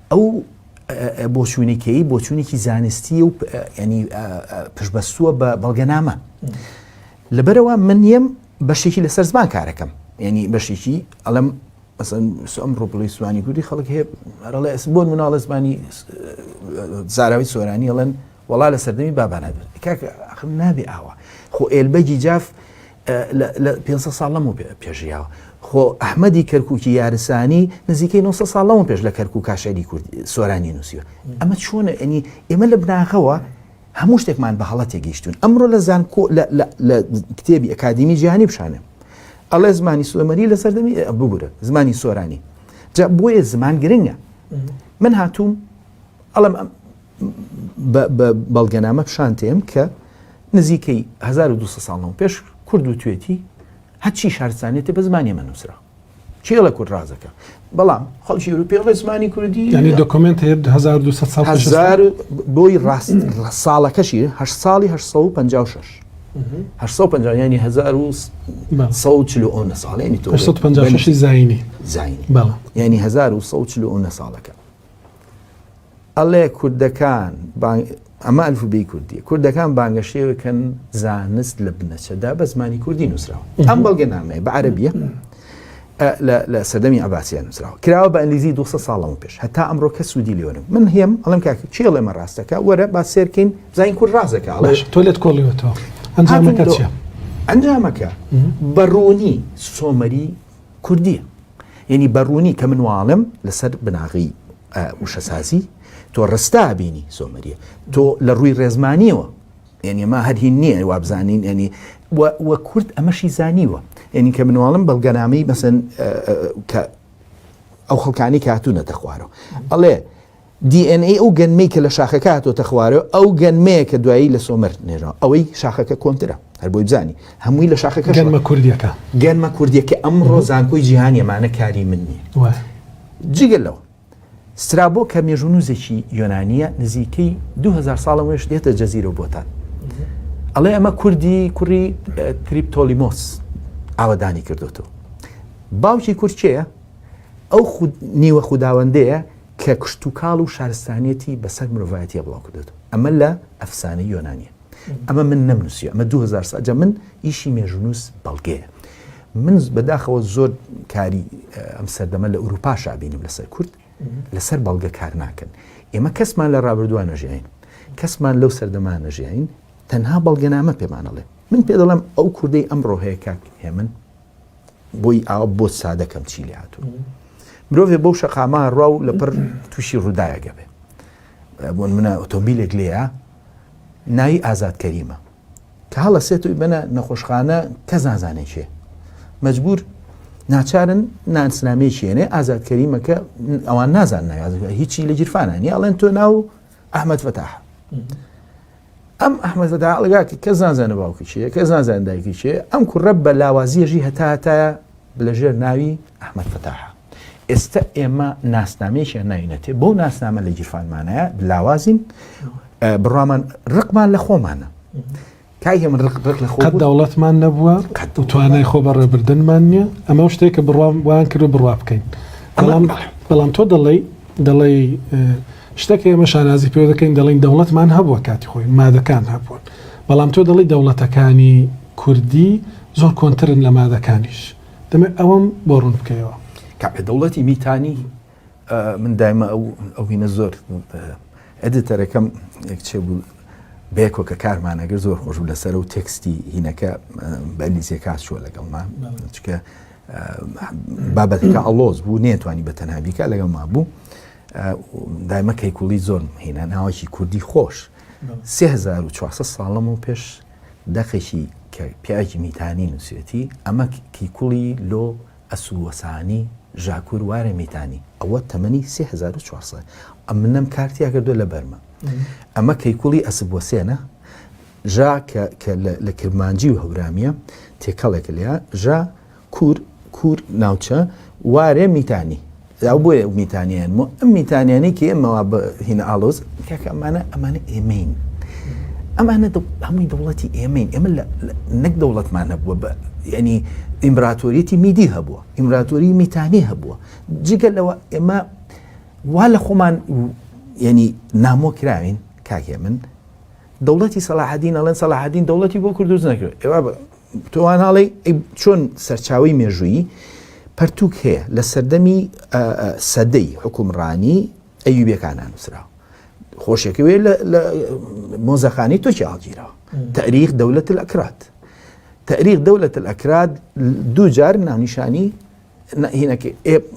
ئەو بۆچوونەی کەی بۆچوونێکی زانستیە و ینی پشبەستووە بە بەڵگەنامە لەبەرەوە من یەم بەشێکی لەسەر زمان کارەکەم ینی بەشێکی ئەڵم ئەم ڕۆپڵی سوانی کوردی خەڵک هەیە ئەرڵێ ئەس بۆن مناڵە زمانی زاراوی سۆرانی ئەڵێن وڵا لە سەردەمی بابانە کاکە نابێ ئاوە خۆ ئێلبەگی جاف لە لە پێنج سەد ساڵ لەمەو پێ پێش ژیاوە. خۆ ئەحمەدی کەرکووکی یارسانی نزیکەی نۆ سەد ساڵ لەمەو پێش لە کەرکووکا شیعری کوردی سۆرانی نووسیوە. ئەمە چۆنە ئەنی ئێمە لە بناغەوە هەموو شتێکمان بە هەڵە تێگەیشتوون. ئەمڕۆ لە زانکۆ لە لە لە کتێبی ئەکادیمی جیهانی بشانێ ئەڵێ زمانی سۆمەری لە سەردەمی ئێ ببوورە زمانی سۆرانی. جا بۆیە زمان گرنگە. من هاتووم ئەڵێم ئەم بە بەڵگەنامە پیشان تێم کە نزیکەی هەزار و دوو سەد ساڵ لەمەو پێش کورد وتوێتی هەرچی شارستانێتی بە زمانی ئێمە نووسرا چێڵە کورد ڕازەکە بەڵام خەڵکی ئەوروپی بڵێ زمانی کوردی یعنی دۆکمنت هەیە 1200 ساڵ هزار و بۆی ڕاست ساڵەکەشی هە ساڵی 1956 1950 ینی 1940 ساڵێنی تو 1950 زینی زینی بەڵام ینی 1940 ساڵەکە ئەڵێ کوردەکان ئەمە ئەلف بی کوردی کوردەکان بانگەشێوەکەن زانست لە بنەچەدا بە زمانی کوردی نووسراوە ئەم بەڵگە نامەیە بە عەربیە لە سەدەمی عباسیان نووسراوە کراوە بە ئەلیزی 200 ساڵەوە پێش هەتا ئەمڕۆ کە سوودی لێوەرم من هێم ئەڵم کاک چێ ئەمە ڕاستەکە وەرە با سێرکەین زین کورد ڕاستەکە ئەڵێ تۆ لێت کۆڵیوەتەوە ئەنجامەکە ئەنجامەکە بەڕوونی سۆمەری کوردییە. یەنی بە ڕوونی کە من واڵێم لەسەر بناغەی وشەسازی تۆ ڕستا بینی سۆمەریە. تۆ لە ڕووی ڕێزمانیەوە یەنی ئەمە هەر هین نییە وابزانین یەنی و کورد ئەمەشی زانیوە. یەنی کە منواڵم بەڵگەنامەی مەسەن کە ئەو خەڵکانی کاتوونەتە خوارەوە ئەڵێ دی ئێن ئەی ئەو گەنمەی کە لە شاخەکە هاتۆتە خوارەوە ئەو گەنمەیە کە دوایی لە سۆمەر نێژراوە ئەوەی شاخەکە کۆنترە هەر بۆی بزانی هەمووی لە شاخەکە گەنمە کوردیەکە گەنمە کوردیەکە ئەمڕۆ زانکۆی جیهانی ئەمانە کاری من نییە جگە لەوە سترابۆ کە مێژونوزێکی یۆنانیە نزیکەی 2000 ساڵە وێش دێتە جەزیرە بۆتان ئەڵێ ئەمە کوردی کوڕی تریپتۆلیمۆس ئاوادانی کردوتەوە باوکی کورچەیە ئەو نیوە خودداوەندەیە کە کشتوکاڵ و شارستانیەتی بەسەر مرۆڤایەتیا بڵاو کردۆتەوە ئەمە لە ئەفسانەی یۆنانیە ئەمە من نەمنوسیوە ئەمە دوو هەزار سا جا من ئیشی مێژونوس بەڵگەیە من بەداخەوە زۆر کاری ئەم سەردەمە لە ئوروپا شابینم لەسەر کورد لەسەر بەڵگە کار ناکەن ئێمە کەسمان لە ڕابردووە نەژیین کەسمان لەو سەردەمان نەژیین تەنها بەڵگەنامە پێمانەڵێ من پێ دەڵم ئەو کوردەی ئەم ڕۆهەیە کاک هێمن بۆی ئاوا بۆ سادە کەم چی لێ هاتوون مرۆڤێ بەو شەقامە ڕوا و لەپەر تووشی ڕووداەکە بێ بۆن منە ئۆتۆمبیلێک لێە ناوی ئازاد کەریمە کە هەڵە سێت و بەە نەخۆشخانە کەس نازانێکێ مەجبور ناچارن نانسنامەیەکێنێ ئازاد کەریمەکە ئەوان نازان ناگاز هیچی لە گیرفانانی ئەڵێن تۆ ناو ئەحمەد فتاح ئەم ئەحمەد فتاح ئەڵگاتی کە زانزانە باوکی چیە کە زانزان دایکی چێ ئەم کوڕە بە لاوازیەژی هەتا هەتایە لە ژێر ناوی ئەحمەد فتاح ئێستا ئێمە ناسنامەیەکیان ناینەتێ بۆ ناسنامە لە گیرفانمانەیە لاوازین بڕامان ڕقمان لە خۆمانە کاک هێمن ڕق ڕق لە خۆ قەت بوون. دەوڵەتمان نەبووە قەت دەوڵەت. و توانای خۆ بەڕێبردنمان نییە، ئەمەو شتێکە بڕوام وایان کردووە بڕوا بکەین. ئەمە- بەڵام بەڵام تۆ دەڵێی دەڵێی ئە، شتێک هەیە ئێمە شانازی پێوە دەکەین دەڵێین دەوڵەتمان هەبووە کاتی خۆی، مادەکان هەبوون. بەڵام تۆ دەڵێی دەوڵەتەکانی کوردی زۆر کۆنترن لە مادەکانیش. دەمەوێت ئەوەم بۆ ڕوون بکەیەوە. کاکە دەوڵەتی میتانی، من دایمە ئەو ئەوینە زۆر ئەدیتەرەکەم کچێ بوو بێکۆ کە کارمانەگەر زۆر خۆش بوو لەسەر و تێکستی هینەکە بەلیزیە کاس چووە لەگەڵما چکە بابەتەکە ئەڵۆز بوو نێتوانی بە تەنها بیکە لەگەڵ ما بوو دایمە کەیکوڵی زۆر هینە ناوەکی کوردی خۆش 1940 ساڵم و پێش دەقێکی کە پیاکی میتانی نووسێتی ئەمە کیکوڵی لۆ ئەسوو وەسانی ژاکوور وارە میتانی ئەوە تەمەنی سێ هەزار و چوار سەد ئە منم کار تیا کردووە لە بەرمە ئەمە کەیکوڵی ئەسب وەسێنە ژا کە کە لە کرمانجی و هەورامیە تێکەڵێک لێە ژا کور کور ناوچە وارێ میتانی ئەو بۆیە ئەو میتانیان مۆ ئەم میتانیانی کە ئێمەوا بە هینە ئالۆز کاکە ئەمانە ئەمانە ئێمەین ئەمانە هەمووی دەوڵەتی ئێمەین ئێمە نەک دەوڵەتمان هەبووە بە ینی ئیمبراتۆریەتی میدی هەبووە ئیمبراتۆری میتانی هەبووە جگە لەوە ئێمە وا لە خۆمان ینی نامۆ کراوین کاکێ من دەوڵەتی سەلاحدین ئەڵێن سەلاحدین دەوڵەتی بۆ کردوز نەکرد ئێوە تۆ وا ناڵێی ئەی چۆن سەرچاوەی مێژوویی پەرتووک هەیە لە سەردەمی ئە، ئە، سەدەی حوکمڕانیی ئەیوبیەکانا نووسراوە، خۆشێکەوێ لە، لە مۆزەخانەی تۆکیا هەڵگیراوە، تاریخ دەولەت ئەکراد، تاریخ دەولەت ئەکراد دوو جار ناونیشانی، هینەکە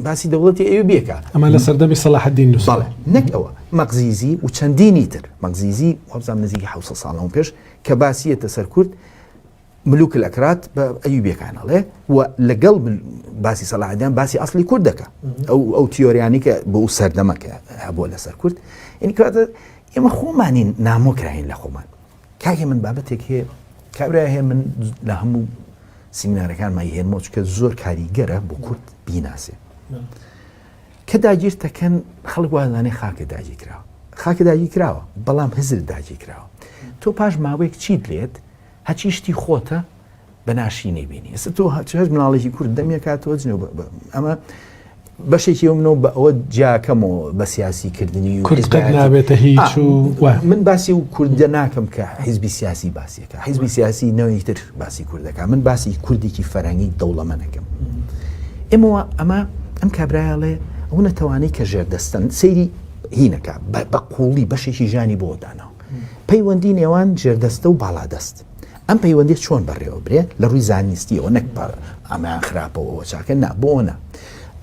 باسی دەوڵەتی ئەوێ بێکە ئەمە لە سەردەمی سەلاحدین نووسڵە نەک ئەوە مەقزیزی و چەندینی تر مەقزیزی وابزان نزیکی ح ساڵەوە پێش کە باسیەتە سەر کورد ملوک لە کرات بە ئەوی بێکانەڵێ و لەگەڵ باسی سەلاحدان باسی ئەاصلی کورد دەکە ئەو ئەو تیۆریانی کە بۆ ئەو سەردەمەکە هەبووە لەسەر کورد ئینکاتە ئێمە خۆمانین نامۆکراین لە خۆمان کاکێ من بابەتێک هەیە کابرای هەیە من لە هەموو سیمینارەکان مای هێنمەوە چکە زۆر کاریگەرە بۆ کورد بیناسێ کە داگیرتەکەن خەڵک وازانێ خاکە داگی کراوە خاکە داگی کراوە بەڵام هزر داگی کراوە تۆ پاش ماوەیەک چیت لێت هەچی شتی خۆتە بەناشیینەی بینی ئێستا تۆ هەچ مناڵێکی کورد دەمێکات تۆ جنێو ئەمە بەشێکی ئەو منەوە بە ئەوە جاکەمەوە بە سیاسی کردنی و نابێتە هیچ و من باسی و کوردە ناکەم کە حیزبی سیاسی باسیەکە حیزبی سیاسی نەوەی تر باسی کوردەکە من باسی کوردێکی فەرەنگی دەوڵەمەنەکەم ئێمەوە ئەمە ئەم کابراایاڵێ ئەو نەتەوانەی کە ژێردەستن سەیری هینەکە بە قوڵی بەشێکی ژانی بۆدانەوە پەیوەندی نێوان ژێردەستە و باڵادەست ئەم پەیوەندیە چۆن بەڕێوە برێ لە ڕووی زانیستیەوە نەک پار ئەمەیان خراپەوەەوە چاکە نا بۆنە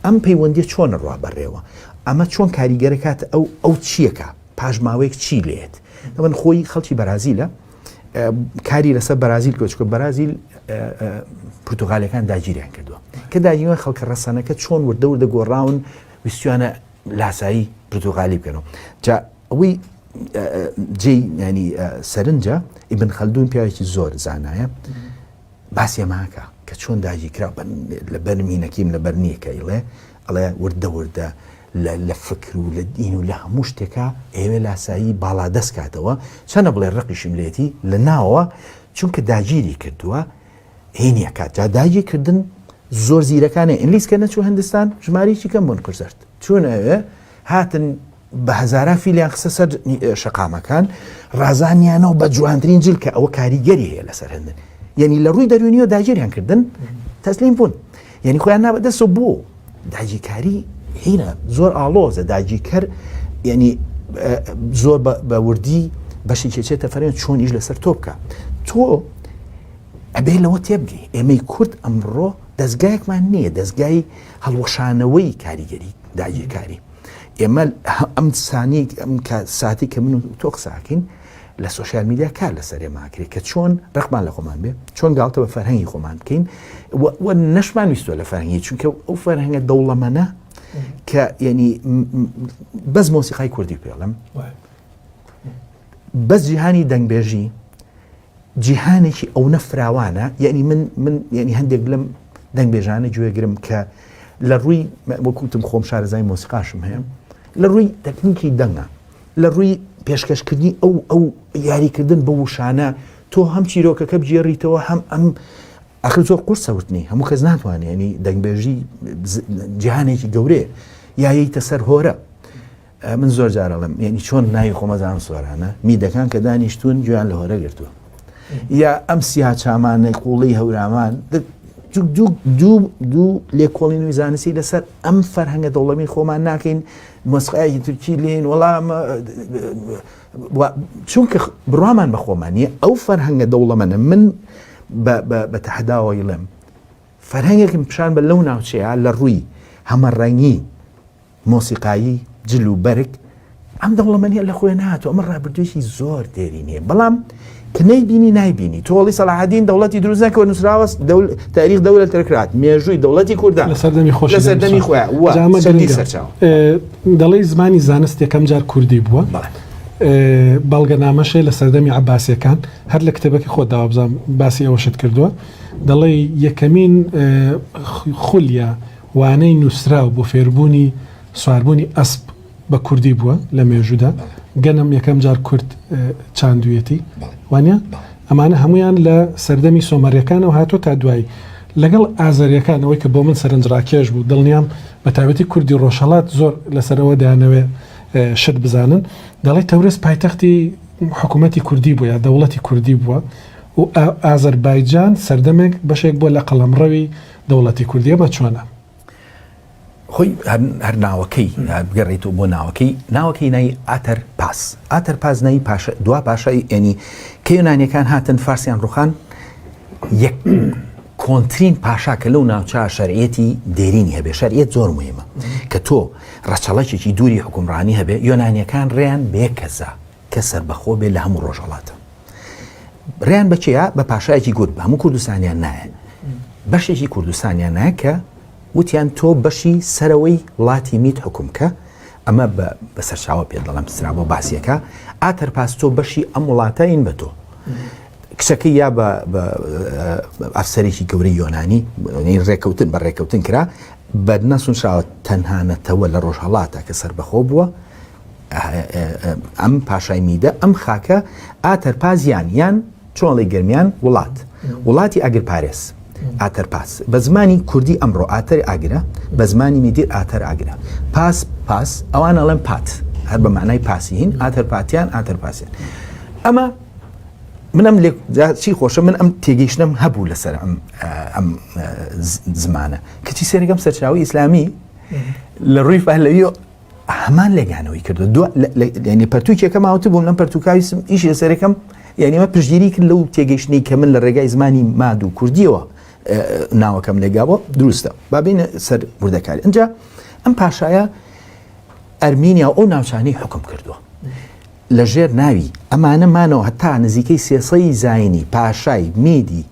ئەم پەیوەندی چۆن ڕوا بەڕێوە ئەمە چۆن کاریگەرە کات ئەو ئەو چیەکە پاشماوەیەک چی لێت ئەمن خۆی خەڵکی بەرازیلە کاری لەسەر بەرازیل کۆچکە بەرازیل پرتغالەکان داگیریان کردووە کە داگیوان خەڵکە ڕەسەنەکە چۆن وردە وردە گۆڕاون ویستوانە لاسایی پرتغالی بکەنەوە ئەوەی جێی ینی سەرنجە ئیبن خەلدون پیاوێکی زۆر زانایە باسی ئەماکە کە چۆن داگیرکرا لە بەرمینەکەیم لە بەرنیەکە ئیڵێ ئەڵێ وردە وردە لە فکر و لە دین و لە هەموو شتێکە ئێوێ لاسایی باڵا دەست کاتەوە چەنە بڵێ ڕقیشم لێتی لە ناوە چونکە داگیری کردووە هینە کات جا داگی کردن زۆر زیرەکانە ئینلیس کە نەچوو هندستان ژمارەیەکی کەم بوون قرزرد چون ئەوێ هاتن بە هەزاران فیلیان خستە سەر شەقامەکان ڕازانیانەوە بە جوانترین جل کە ئەوە کاریگەری هەیە لەسەر هەندن یعنی لە ڕووی دەروونیەوە داگیریان کردن تەسلیم بوون یعنی خۆیان نابەدەسە بۆ داگیرکاری هینە زۆر ئاڵۆزە داگیرکەر یعنی زۆر بە وردی بەشی کێچێتە فەرێن چۆن ئیش لەسەر تۆ بکە تۆ ئەبێ لەوە تێبگەی ئێمەی کورد ئەمڕۆ دەستگایەکمان نییە دەستگای هەڵوەشانەوەی کاریگەری داگیرکاری ئێمە ئەم سانی ئەم ساتی کە من و تۆ قساکەین لە سوسیال میدیا کار لە سەرێماکرێت کە چۆن ڕقمان لە خۆمان بێ چۆن گاڵتە بە فەرهەنگی خۆمان بکەین و نەشمان ویستوە لە فەرهنگی چونکە ئەو فەرهنگە دەوڵەمەە کە یعنی بەس مۆسیقای کوردی پێڵم بەس جیهانی دەنگبێژی جیهانێکی ئەونە فراوانە یعنی من من یعنی هەندێک لەم دەنگبێژانە گوێگرم کە لە ڕووی وەکوتم خۆم شارەزای مۆسیقاشم هەیە لە ڕووی تەکنیکی دەنگە لە ڕووی پێشکەشکردنی ئەو ئەو یاریکردن بە وشانە تۆ هەم چیرۆکەکە بگێڕیتەوە هەم ئەم ئەخر زۆر قورسەوتنی هەموو کەس ناتوانێنی دەنگبێژی جیهانێکی گەورەیە یایەیتە سەر هۆرە من زۆر جار ئەڵێم یەنی چۆن ناوی خۆمە زانم سۆرانە میدەکان کە دانیشتون گوێیان لە هۆرە گرتووە یا ئەم سیا چامانەی قوڵی هەورامان دوو لێکۆڵین و زانستی لەسەر ئەم فەرهەنگە دەوڵەمی خۆمان ناکەین مۆسقایەکی تورکی لین وەڵام چونکە بڕوامان بە خۆمان نیە ئەو فەرهەنگە دەوڵەمەە من بە تەحداوەی ڵێم فەرهەنگێکم پیشان بە لەو ناوچەیە لە ڕووی هەمە ڕەنگی مۆسیقایی جل و بەرگ ئەم دەوڵەمەنیە لە خۆێ ناتوە ئەمە ڕابردوێکی زۆر دێری نیە بەڵام کە نەیبینی نایبینی تۆڵی سەلاحدین دەوڵەتی دروزە کە نووسراوە تاریخ دەولە تەرکرات مێژووی دەوڵەتی کوردان لە سەردەمی خۆش سەردەمی خۆیان دەڵی زمانی زانست یەکەم جار کوردی بووە بەڵگەنامەشێ لە سەردەمی عباسیەکان هەر لە کتێبەکە خۆ داوابزان باسی ئەوەشت کردووە دەڵێ یەکەمین خولە وانەی نووسراو بۆ فێربوونی سواربوونی ئەسپ بە کوردی بووە لە مێژوودا، گەنم یەکەم جار کورد چاندوویەتی، وانییە؟ ئەمانە هەموویان لە سەردەمی سۆمەرییەکانەوە هاتووە تا دوایی، لەگەڵ ئازەرییەکان، ئەوەی کە بۆ من سەرنجڕاکێش بوو، دڵنیام بەتایبەتی کوردی ڕۆژهەڵات زۆر لەسەر ئەوە دەیانەوێ شت بزانن، دەڵێ تەورێز پایتەختی حکوومەتی کوردی بووە یا دەوڵەتی کوردی بووە و ئازەربایجان سەردەمێک بەشێک بووە لە قەڵەمڕەوی دەوڵەتی کوردی ئەمە چۆنە؟ خۆی هەر ناوەکەی بگەڕێتەوە بۆ ناوەکەی ناوەکەی نای ئاتەر پاس ئاتەر پاس نایی پاشە دوا پاشای ئێنی کە یۆنانیەکان هاتن فارسیان ڕوخان یەک کۆنترین پاشا کە لەو ناوچە شەرعەتی دێرینی هەبێ شەرعەت زۆر مهمە کە تۆ ڕەچەڵەکێکی دووری حکومڕانی هەبێ یۆنانیەکان ڕێیان بێ کەسە کە سەربەخۆ بێ لە هەموو ڕۆژهەڵاتە بریان بەچەیە بە پاشایەکی گورد بە هەموو کوردستانیان نایە بەشێکی کوردستانیان نایە کە وتیان تۆ بەشی سەرەوەی وڵاتی میت حکوم کە ئەمە بە سەرچاوە پێ دەڵم سرا بۆ باسیەکە ئاتەر پاس تۆ بەشی ئەم وڵاتە ئین بە تۆ کچەکە یا بە ئەفسەرێکی گەورەی یۆنانی ڕێککەوتن بە ڕێککەوتن کرا بەدنەسونشاوە تەنانەتەوە لە ڕۆژهڵاتە کە سربەخۆ بووە ئەم پاشای میدە ئەم خاکە ئاتەرپازیان یان چۆڵی گەرمیان وڵات وڵاتی ئەگر پارێز ئاتەرپاس بە زمانی کوردی ئەمڕۆ ئاتەر ئاگرە بە زمانی میدیر ئاتەر ئاگرە پاس پاس ئەوان ئەڵێن پات هەر بە معنای پاسیین ئاتەر پاتیان ئاتەر پاسیان ئەمە منم لێ چی خۆشە من ئەم تێگەیشتنم هەبوو لەسەر ئەم ئەم زمانە کەچی سێنەکەم سەرچاوی ئیسلامی لە ڕووی پهلەوی هەمان لێکانەوەی کردو دو لەنی پەرتوکێکە ماوت بووم لەم پەرتوکاویسم ئیش لە سەرەکەم یعنیمە پشگیری کرد لەو تێگەیشتنی کە من لە ڕێگای زمانی ماد و کوردیەوە ناوەکەم لێگابووە دروستە بابینە سەر وردەکاری ئەجا ئەم پاشایە ئەرمینیا ئەو ناوچانەی حکم کردووە لە ژێر ناوی ئەمانەمانەوە هەتا نزیکەی سێسەی زینی پاشای میدی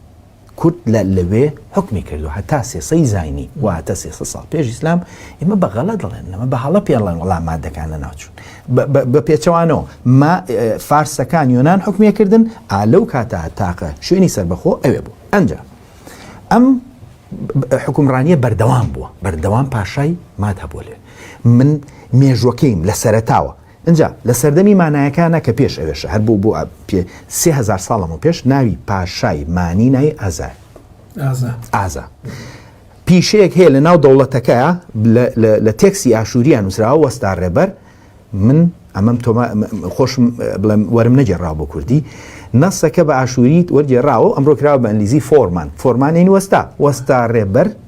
کورد لە لەوێ حکومی کردو هەتا سێسەی زینی واتە سێسە ساڵ پێش ئیسلام ئمە بە غەڵە دەڵێن نەمە بە هەڵە پێڵێن وڵام مادەکانە ناوچون بە پێچەوانەوە ما فارسەکان یۆناان حکومێکردن ئالەو کاتا تاقە شوێنی سربەخۆ ئەوێ بوو ئەجا ئەم حکومڕانیە بەردەوام بووە بەردەوام پاشای مات هەبوو لێ من مێژوەکەیم لە سەرتاوە ئنجا لە سەردەمی مانایەکانا کە پێش ئەوێشە هەر بۆ بۆ پێ سێ هەزار ساڵ لەمەو پێش ناوی پاشای مانی نای ئازا ئازا ئازا پیشەیەک هەیە لە ناو دەوڵەتەکەیە لە تێکسی ئاشووریان نووسراوە وەستا ڕێبەر من ئەمەم تۆما خۆشم بڵێم وەرم نەگەڕاو بۆ کوردی نەسەکە بە ئاشووریت وەرگێڕاوە ئەمڕۆ کراوە بە ئەنلیزی فۆرمان فۆرمانین وەستا وەستا ڕێبەر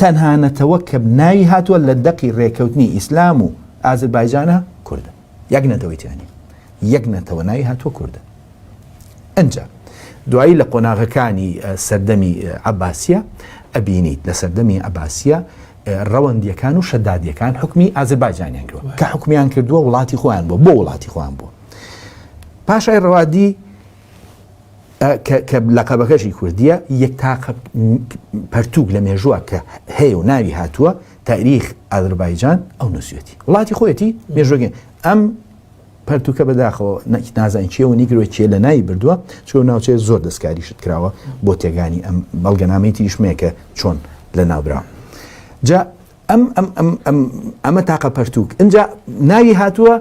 تەنها نەتەوە کە ناوی هاتووە لە دەقی رێکەوتنی ئیسلام و ئازربایجانە کوردە یەک نەتەوەی تیانی یەک نەتەوە ناوی هاتووە کوردە ئەجا دوایی لە قۆناغەکانی سەردەمی عباسیە ئەبینیت لە سەردەمی عباسیە ڕەوەندیەکان و شەدادیەکان حکمی ئازربایجانیان کردوە کە حکومیان کردووە وڵاتی خۆیان بۆ بۆ وڵاتی خۆیان بووە پاشای ڕەوادی کە لەقەبەکەشی کوردیە یەک تاقە پەرتوک لە مێژووە کە هەیە و ناوی هاتووە تاریخ ئازربایجان ئەو نووسەتی وڵاتی خۆیەتی مێژوەگە ئەم پەرتوکە بەداخەوە نەکی نازان چێ و نیگرۆ چێ لە ناوی بردووە چۆ ناوچێت زۆر دەستکاریشت کراوە بۆ تێگانی ئەم بەڵگەنامەی تریشمەیە کە چۆن لە ناوبراون جا ئەم ئەم ئەم ئەم ئەمە تاقە پەرتووک ئەجا ناوی هاتووە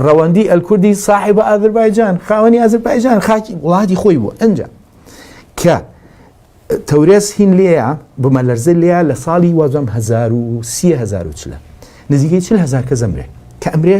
ڕەوەندی ئەلکوردی ساحب بە ئازربایجان خاوەنی ئازربایجان خاکی وڵاتی خۆی بووە ئەجا کە تەورێز هین لێە بمە لەرزە لێە لە ساڵی وازم هزار و سیهزار و چلە نزیکەی چل هزار کە زەمرێ کە ئەمرێ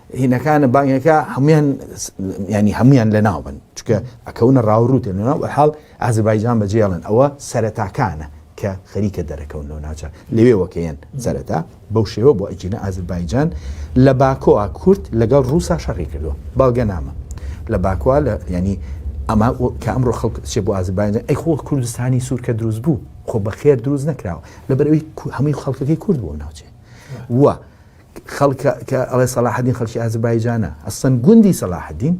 هینەکانە بانگەکە هەموان ینی هەموان لە ناوبن چکە ئەکەونە ڕاوڕوتێن لە ناو حاڵ ئازربایجان بەجێڵن ئەوە سەرەتاکانە کە خەریکە دەرەکەون لەو ناوچە لەوێوەکەیەن سەرەتا بەو شێوە بۆ ئەگینە ئازربایجان لە باکۆوا کورت لەگەڵ ڕووسا شەڕی کردووە باڵگە نامە لە باکووا لە ینی ئەمە کە ئەمڕۆ خەڵک چێ بۆ ئازربایجان ئەی خۆ کوردستانی سوورکە دروست بوو خۆ بەخێر دروست نەکراوە لەبەرەوەی هەمووی خەڵکەکەی کورد بۆ ناوچێ وە خەڵکە کە ئەڵێ سەڵاحەدین خەڵکی ئازربایجانە ئەسڵەن گوندی سەڵاحەدین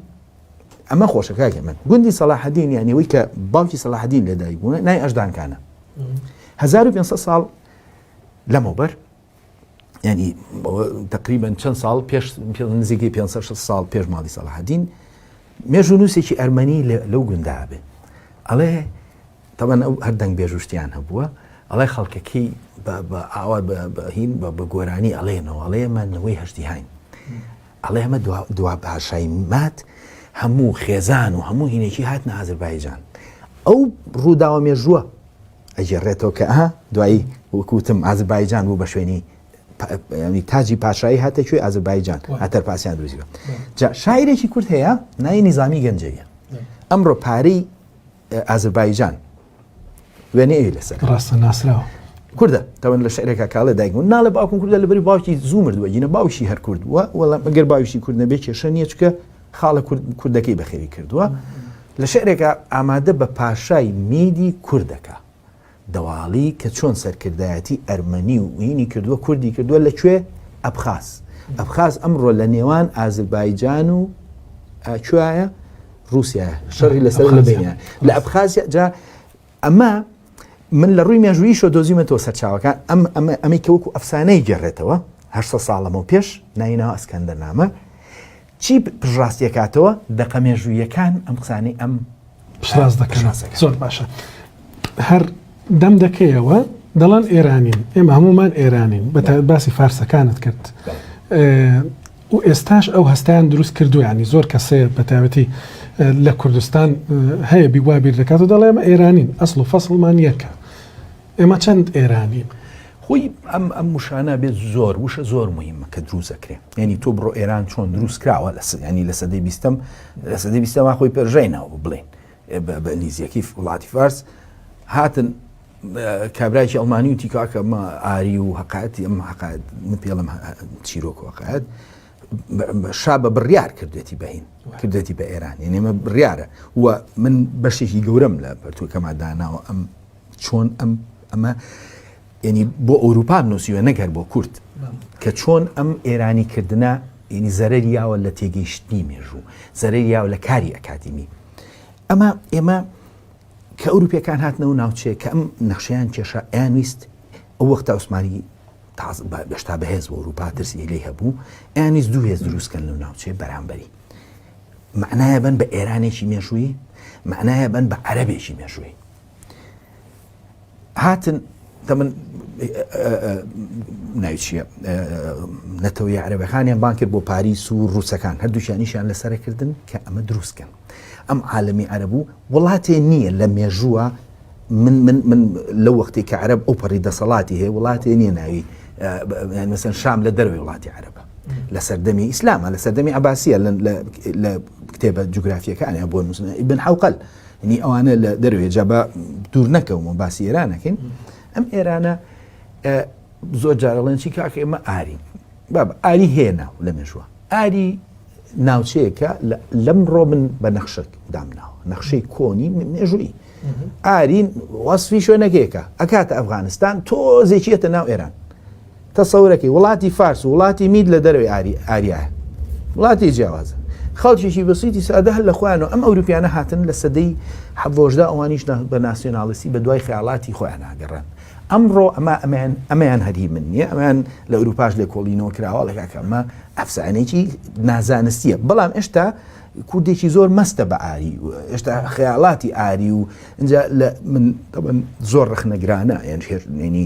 ئەمە خۆشە کاکە من گوندی سەڵاحەدین یانی ئەوەی کە باوکی سەڵاحەدین لە دایک بووە نای ئەژدانکانە 1500 ساڵ لەمەوبەر ینی تقریبان چەند ساڵ پێش نزیکی 500 ساڵ پێش ماڵی سەڵاحەدین مێژوو نووسێکی ئەرمەنی لەو گوندا بێ ئەڵێ تەبەن ئەو هەر دەنگ بێژو شتیان هەبووە ئەڵێ خەڵکەکەی بە ئاوا بەهین بە بە گۆرانی ئەڵێنەوە ئەڵێمە نەوەی هەشتیهاین ئەڵێ ئەمە دوا پاشای مات هەموو خێزان و هەموو هینێکی هات نە ئازربایجان ئەو ڕووداوە مێژووە ئەگەڕێتەوە کە ئەها دوایی وەکوتم ئازربایجان بوو بە شوێنی ینی تاجی پاشایی هاتە کوێ ئازربایجان هاتەر پاسیان دروزیوە جا شاعرێکی کورت هەیە نای نظامی گەنجەویە ئەمڕۆ پارەی ئازربایجان وێنەی ئەوی لەسەر ڕاستە ناسراوە کوردە تەوەن لە شعرێکا کاڵێ دایک و ناڵێ باوکم کوردە لە بەری باوکی زوو مردووە گینە باوشی هەر کرد وە وەڵام ئەگەر باوشی کورد نەبێ کێشە نییە چکە خاڵە کوردەکەی بەخێوی کردووە لە شعرێکە ئامادە بە پاشای میدی کوردەکە دواڵی کە چۆن سەرکردایەتی ئەرمەنی و ئینی کردووە کوردی کردووە لە کوێ ئەبخاز ئەبخاز ئەمڕۆ لە نێوان ئازربایجان و کوایە رووسیا شەڕی لەسەر لە بینە لە ئەبخازیا جا ئەمە من لە ڕووی مێژوویشە دۆزیمەتەوە سەرچاوەکان ئەم ئەمە ئەمەی کەوەکو ئەفسانەی گەڕێتەوە هەر ساڵەمە و پێش نایناوە ئەسکەندەر نامە چی پشتڕاستی ئەکاتەوە؟ دەقە مێژووییەکان ئەم قسانەی ئەم پشتڕاست دەکەن. زۆر باشە. هەر دەم دەکەیەوە دەڵێن ئێرانین ئێمە هەمومان ئێرانین بە باسی فارسەکانت کرد و ئێستاش ئەو هەستیان دروست کردویانی زۆر کەسەیە بە تایبەتی لە کوردستان هەیە بیوابیر دەکات و دەڵێمە ئێرانین ئەسڵ و فەسڵمان یەکە ئێمە چەند ئێرانین خۆی ئەم ئەم وشانە بێت زۆر وشە زۆر مهمە کە دروست دەکرێن یعنی تۆ بڕۆ ئێران چۆن دروست کراوە لە ینی لە سەدەی بیستم لە سەدەی بیستەما خۆی پێرژینەوە بڵێن بە ئەنگلیزیەکی وڵاتی فارس هاتن کابراایکی ئەڵمانی و تیکاکە ئاری و هەقاتی ئەم هەقات پێڵم چیرۆک وقات شا بە بڕیار کردێتی بەهین کردێتی بە ئێران یعنی ئمە بڕیارە و من بەشێکی گەورەم لە پەرتوەکەما داناوە ئەم چۆن ئەم ئەمە ینی بۆ ئەوروپا نووسیوە نەک هەر بۆ کورد کە چۆن ئەم ئێرانی کردە ینی زەرەر یاوە لە تێگەیشتنی مێژوو زەرەر یاوە لە کاری ئەکادیمی ئەمە ئێمە کە ئەوروپیەکان هاتنەوە ناوچێ کە ئەم نەخشیان کێشە ئەیانویست ئەو وەختە عوسمانی گەشتا بەهێز بۆ ئەوروپا ترسی لی هەبوو ئەیانویست دوو هێز دروستکەن لەو ناوچێ بەرامبەری معناە بن بە ئێرانێکی مێژووی معناە بن بە عەربێکی مێژووی هاتن کە من ناوچیە نەتەوەی عربەکانیان بان کرد بۆ پاریس و ڕووسەکان هەردووشانیشیان لەسەرکردن کە ئەمە دروستکەن ئەم عالمی عربوو وڵاتێ نییە لە مێژووە من من من لە وەختی کە عرب ئەو پەڕی دەسەڵاتی هەیە وڵاتێ نییە ناوی مەسەن شام لە دەروی وڵاتی عربە لە سەردەمی ئیسلامە لە سەردەمی عباسیە لە کتێبە جوگرافیەکانیان بۆ نووسن بن حوقل ینی ئەوانە لە دەروێ جا بە دوور نەکەم و باسی ئێرانەکەین ئەم ئێرانە زۆر جارەڵێن چی کاکە ئێمە ئاری باب ئاری هێنا لە مێژوە ئاری ناوچەیەکە لەم ڕۆ من بە نەخشک دامناوە نەخشەی کۆنی مێژووی ئارین وەصفی شوێنەکەیەکە ئەکاتە ئەفغانستان تۆزێکیێتە ناو ئێران تەسەورەکەی وڵاتی فارس و وڵاتی مید لە دەرەوەی ئاری ئاریایە وڵاتی جیاوازە خەڵکێکی بەسیتی سادە هەر لە خۆیانەوە ئەم ئەوروپیانە هاتن لە سەدەی حەڤۆشدا ئەوانیش نا بە ناسیۆنالیستی بە دوای خەیاڵاتی خۆیانە گەڕان ئەمڕۆ ئەمە ئەمیان ئەمیان هەر هی من نییە ئەمیان لە ئەوروپاش لێکۆڵینەوە کراوە ئەڵێ کاکە ئەمە ئەفسانەیەکی نازانستییە بەڵام ئێشتا کوردێکی زۆر مەستە بە ئاری و ئێشتا خەیاڵاتی ئاری و ئینجا لە من طبعا زۆر ڕەخنەگرانە یان هێرنێنی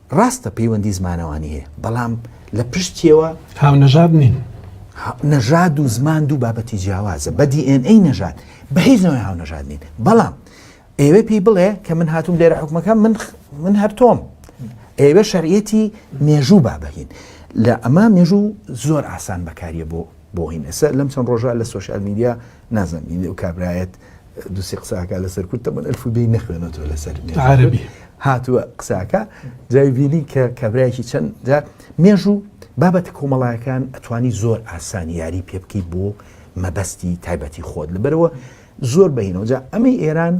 ڕاستە پەیوەندی زمانەوانی هەیە بەڵام لە پشتیەوە هاونەژاد نین نەژاد و زمان دوو بابەتی جیاوازە بە DNA نەژاد بە هیچ نەوەی هاونەژاد نین بەڵام ئێوە پێی بڵێ کە من هاتووم لێرە حکومەکە من من هەرتۆم ئێوە شەرعەتی مێژوو بابهین لە ئەمە مێژوو زۆر ئاسان بەکاریە بۆ بۆین ئێستا لەم چەند ڕۆژە لە سوۆشال میدیا نازانم بینی ئەو کابرایەت دوسی قساکە لەسەر کورد تەمەن ئەلف و بێی نەخوێنەوە لەسەر عربی هاتووە قساکە جای بینی کە کابراایکی چەند جا مێژوو بابەت کۆمەڵایەکان ئەتوانی زۆر ئاسان یاری پێ بکەیت بۆ مەبەستی تایبەتی خۆت لەبەرەوە زۆر بەینەوە جا ئەمەی ئێران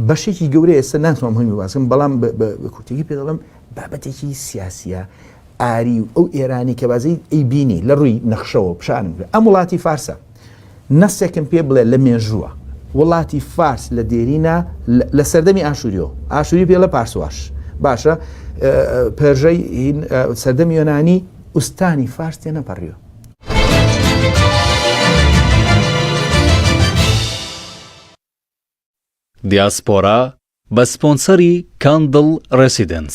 بەشێکی گەورە ئێستا ناتوان مهمی باسم بەڵام بە کورتێکی پێ دەڵم بابەتێکی سیاسیە ئاری و ئەو ئێرانی کە بازی ئەی بینی لە ڕووی نەخشەوە پیشانم کرد ئەم وڵاتی فارسە نەسێکم پێ بڵێ لە مێژووە وڵاتی فارس لە دێرینە لە سەردەمی ئاشوریۆ ئاشوری پێ لە پارسواش باشە پێژەی سەردەمی یۆنانی ئوستانی فارس تێ نەپەڕیوە دیاسپۆرا بە سپۆنسەری کاندڵ ڕێسیدێنس.